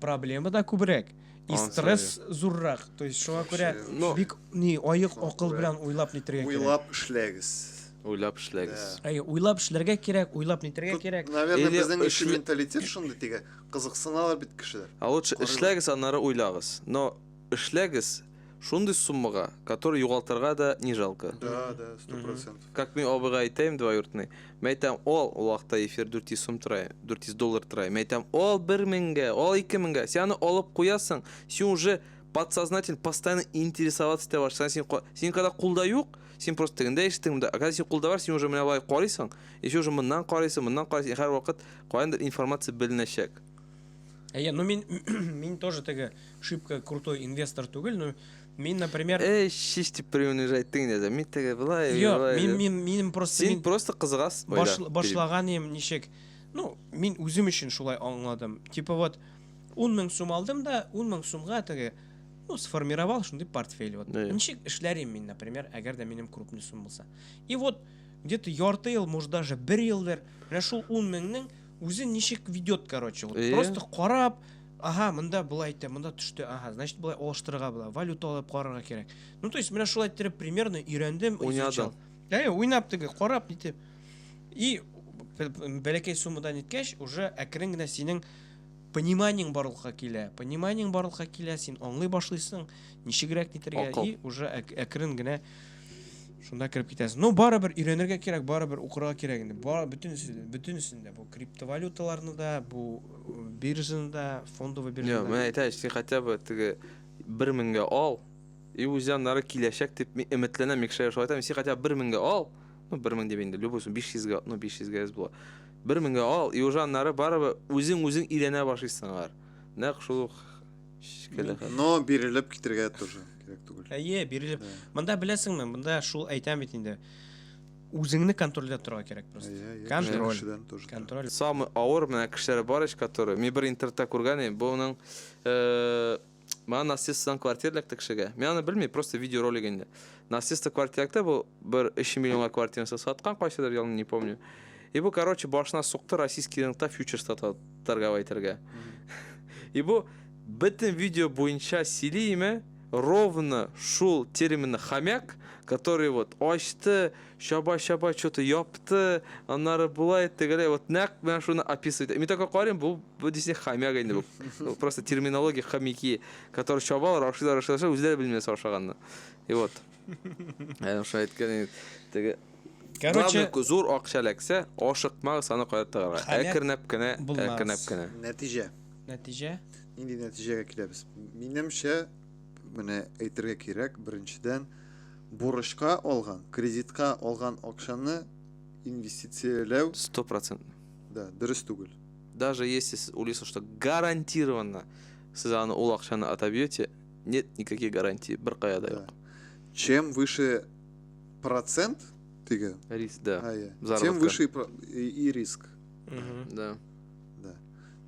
проблема да күбрәк и Ансыз, стресс зуррак то есть шуңа күрә Вообще, ну- бик ни аек акыл күрә. белән уйлап нитергә кирәк Уйлап эшләгез. Уйлап эшләгез. Әй, уйлап эшләргә кирәк уйлап нитергә Тут, кирәк Наверное, Или безнең өчен эшле- менталитет шундый тиге. Кызыксыналар бит кешеләр. А лучше Карыйлар. эшләгез, аннары уйлагыз. Но эшләгез, Шундый суммага, который югалтырга да не жалко. Да, да, сто процент. Как мин абыйга әйтәем двоюртный, мен әйтәм, ал, ул вакытта эфир 400 сум тора, 400 доллар тора. Мен әйтәм, ал 1 меңгә, ал 2 меңгә. Син аны алып куясың, син уже подсознательно постоянно интересоваться итә башласаң, син ка- син когда кулда юк, син просто тегендә ишетең монда. А когда син кулда бар, син уже менә болай карыйсың, и син уже моннан карыйсың, моннан карыйсың, и һәрвакыт каяндыр информация беленәчәк. Әйе, ну мин мин тоже теге шибко крутой инвестор түгел, но мин, например, Эй, шиш дип приунижать ты инде. Мин теге былай, Йо, былай. мин дип. мин минем просто Син мин просто кызыгас. баш, башлаган идем ничек. Ну, мин үзем өчен шулай аңладым. Типа вот 10 мең сум алдым да, 10 мең сумга теге ну, сформировал шундый портфель. Вот. Да. Ничек эшләрем мин, например, әгәр дә минем крупный сум булса. И вот где-то ярты ел, может даже бер елдыр, менә шул 10 меңнең Үзе ничек ведет, короче. Вот Эээ. просто карап, ага, монда болай итә, монда төште, ага, значит болай алыштырырга була, валюта алып карарга кирәк. Ну, то есть менә шулай иттереп примерно өйрәндем, Уйнадың. изучал. Әйе, уйнап теге, карап итеп. И б- б- бәләкәй суммадан иткәч, уже әкрен генә синең пониманиең барлыкка килә. Пониманиең барлыкка килә, син аңлый башлыйсың, ничегрәк нитергә Акыл. и уже әк- әкрен генә шунда кереп китәсең. Ну, барыбер өйрәнергә кирәк, барыбер укырга кирәк инде. Бар бөтенесе, бөтенесен дә бу криптовалюталарны да, бу э, биржаны да, фондовый Йо, биржаны мен да. әйтәм, син хотя бы теге бер меңгә ал, и үзе аннары киләчәк дип мин өметләнәм, Микшәгә шулай әйтәм, син хотя бы бер меңгә ал, ну, бер мең дип инде, любой сум, биш йөзгә, ну, биш йөзгә әз була. Бер меңгә ал, иужы аннары барыбер үзең-үзең өйрәнә башлыйсың аңар. Нәкъ шул ук шикелле хәл. Но бирелеп китергә тоже кирәк түгел. Әйе, бирелеп. Монда беләсеңме, монда шул әйтәм бит инде. Үзеңне контрольдә торырга кирәк просто. Контроль. Контроль. Самый авыр менә кешеләр бар ич, который, мин бер интернетта күргән идем, буның, э, Мана нарциссдан квартира эләкте кешегә. Мин аны белмим, просто видеоролик инде. Нарцисста квартира эләкте, бу бер 3 миллионга квартирасы саткан кайсыдыр елны, не помню. И бу, короче, башына сукты российский рынокта фьючерста торговать итәргә. И бу бөтен видео буенча сөйли име, ровно шул терминны хомяк, который вот ачты, Чаба чаба чоты япты, аннары болай тегеләй вот нәкъ менә шуны описывает. Мин только карыйм, бу бу дисең хомяк инде бу. Ну, Просто терминология хомяки, которые чабалар, ашыйлар, ашыйлар, ашыйлар, үзләре белмиләр ашаганны. И вот. Әнә шулай әйткән инде. Теге Короче, Главное, ку- зур акча эләксә, ашыкмагыз аны кая тыгарга. Хомяк Әкренләп кенә, булмагыз. әкренләп кенә. Нәтиҗә. нәтиҗә Нинди нәтиҗәгә киләбез? Минемчә, менә әйтергә кирәк, беренчедән, Бурычка алган, кредитка алган акчаны инвестицияләү. Стопроцентный. Да, дөрес түгел. Даже если сез уйлыйсыз, что гарантированно сез аны ул акчаны отобьете, нет никаких гарантий, бер кая да юк. Чем выше процент, теге. Риск, да. А, я. Тем выше и, и риск. Угу. Да. Да.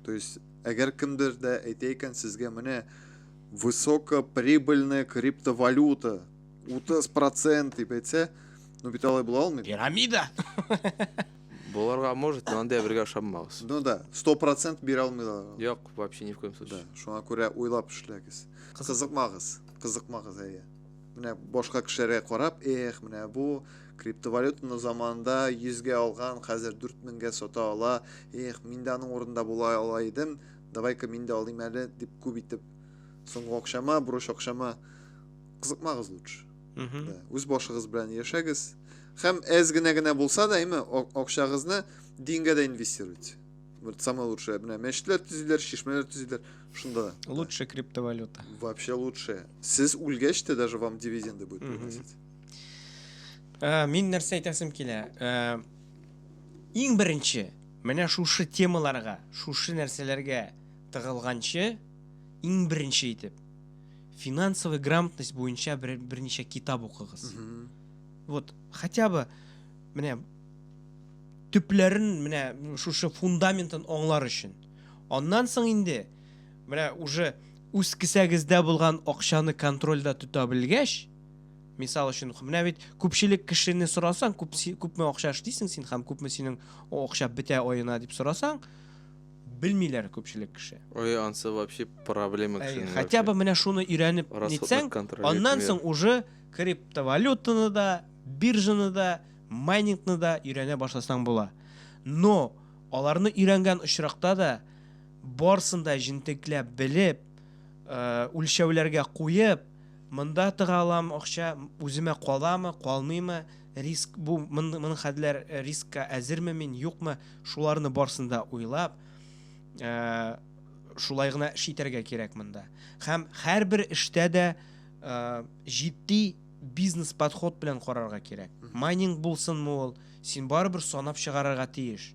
То есть, әгәр кемдер дә әйтә икән сезгә менә Высокоприбыльная криптовалюта. 30 процент дип әйтсә, ну бит алай була алмый. Пирамида. Боларга может, но анда бергә ошаммагыз. Ну да, 100 процент бирә алмыйлар. Юк, вообще ни в коем случае. Да, шуңа күрә уйлап эшләгез. Кызыкмагыз, кызыкмагыз әйе. Менә башка кешеләргә карап, эх, менә бу криптовалютаны заманында 100 гә алган, хәзер 4000 гә сата ала. Эх, мин дә аның урында була ала идем. Давай-ка мин дә алыйм әле, дип күп итеп. Соңгы акчама, бурыч акчама кызыкмагыз лучше. Да. Үз башыгыз белән яшәгез. Һәм әз генә генә булса да, әйме, акчагызны дингә дә инвестируйте. Вот самое лучшее. Менә мәчетләр төзиләр, чишмәләр төзиләр. Шунда. Лучше криптовалюта. Вообще лучше. Сез үлгәч тә даже вам дивиденды будет приносить. Ә, мин нәрсә әйтәсем килә? Ә, иң беренче, Менә шушы темаларга, шушы нәрсәләргә тыгылганчы, иң беренче итеп, финансовый грамотность буенча бер, берничә китап укыгыз. Вот, хотя бы, менә, төпләрен, менә, шушы фундаментын аңлар өчен. Аннан соң инде, менә, уже үз кесәгездә булган акчаны контрольдә тота белгәч, Мисал өчен, менә бит күпчелек кешене сорасаң, күп, күпме акча эшлисең син һәм күпме синең акча бетә аена дип сорасаң, белмиләр күпчелек кеше. Ой, ансы вообще проблема кешенең. Хотя бы менә шуны өйрәнеп нитсәң, аннан соң уже криптовалютаны да, биржаны да, майнингны да өйрәнә башласаң була. Но аларны өйрәнгән очракта да барсын да җентекләп белеп, үлчәүләргә куеп, Монда тыга аламы акча, үземә каламы, калмыймы, риск бу, мондый хәлләр, рискка әзерме мин, юкмы, шуларны барсын да уйлап, шулай гына эш итәргә кирәк монда. Һәм һәрбер эштә дә җитди бизнес подход белән карарга кирәк. Майнинг булсынмы ул, син барыбер санап чыгарырга тиеш.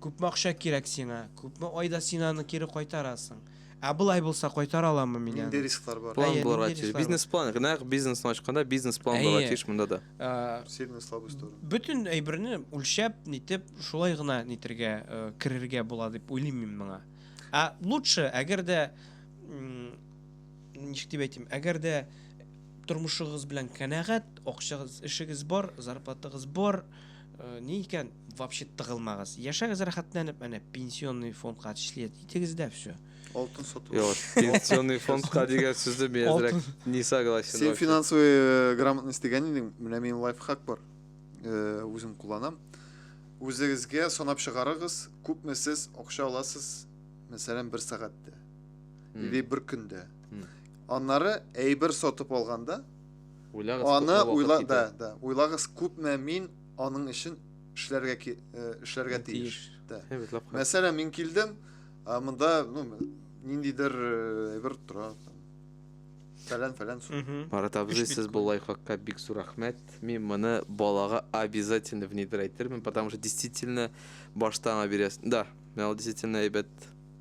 Күпме акча кирәк сиңа, күпме айда син аны кире кайтарасың. Ә болай булса кайтара аламмы мин аны? Нинди рисклар бар? План Әйе, булырга нинди тиеш. рисклар бар? Бизнес-план, нәкъ бизнесны ачканда бизнес-план булырга Әйе. тиеш монда да. Э, Сильная слабая сторона. Бөтен әйберне үлчәп, нитеп, шулай гына нитергә, э, керергә була дип уйлыйм мин моңа. Ә лучше, әгәр дә м, ничек дип әйтим, әгәр дә тормышыгыз белән канәгать, акчагыз, эшегез бар, зарплатагыз бар, Ни икән, вообще тыгылмагыз. Яшәгез рәхәтләнеп, әнә пенсионный фондка члет итегез дә все. Алтын сату. Юк, пенсионный фондка дигән сүзне мин әзрәк не согласен. Син финансовый э, грамотность дигән идең, менә минем лайфхак бар. Э, үзем кулланам. Үзегезгә санап чыгарыгыз, күпме сез акча аласыз, мәсәлән, бер сәгатьтә или бер көндә. Аннары әйбер сатып алганда, Уйлагыз Аны күпме вакыт уйла, да, китә. да, уйлагыз күпме мин аның өчен эшләргә ки, э, эшләргә тиеш. Тиеш. Да. Һәм бит лапка. Мәсәлән, мин килдем, а монда, ну, ниндидер э, әйбер тора. там. Фәлән, фәлән. су. Мгм. Марат абзый, Өч сез биткоин. бу лайфхакка бик зур рәхмәт. Мин моны балага обязательно внедрайтермен, потому что действительно башта аңа бирәсең. Да, миңа ул действительно әйбәт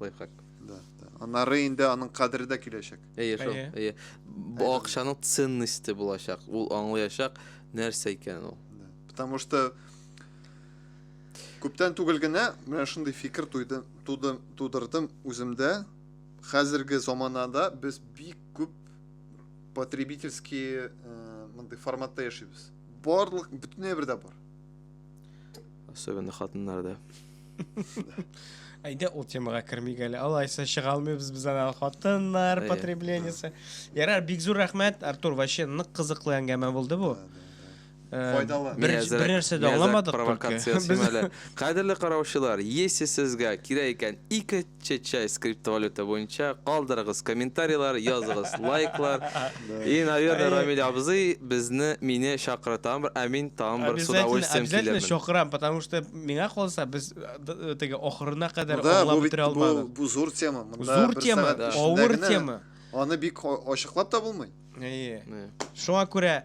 лайфхак. Да, да. Аннары инде аның кадере дә киләчәк. Әйе, шул. Әйе. Әйе. Бу Әйе. акчаның ценности булачак. Ул аңлаячак нәрсә икән ул. Да. Потому что күптән түгел генә менә шундый фикер туйды, туды, тудырдым үземдә. Хәзерге заманада без бик күп потребительский э, мондый форматта яшибез. Барлык бөтенләй бердә бар. Особенно хатыннарда. Әйдә ул темага кермик әле. Алайса чыга алмыйбыз без ана хатыннар Әйе. потреблениясе. Ярар, бик зур рәхмәт, Артур. Вообще нык кызыклы әңгәмә булды бу. Э, Файдалы. Бер, Миязәк- бер нәрсә дә Миязәк аңламадык провокация только. син әле. Кадерле караучылар, если сезгә кирәк икән ике Чечай скриптовалюта буенча калдырыгыз комментарийлар, языгыз лайклар. И, наверное, Рамиль абзый безне, мине чакыра тагын бер, ә мин тагын бер с удовольствием килермен. Обязательно чакырам, потому что миңа калса без теге ахырына кадәр аңлап бетерә алмадык. Бу зур тема. Зур тема, авыр тема. Аны бик ачыклап та булмый. Әйе. Шуңа күрә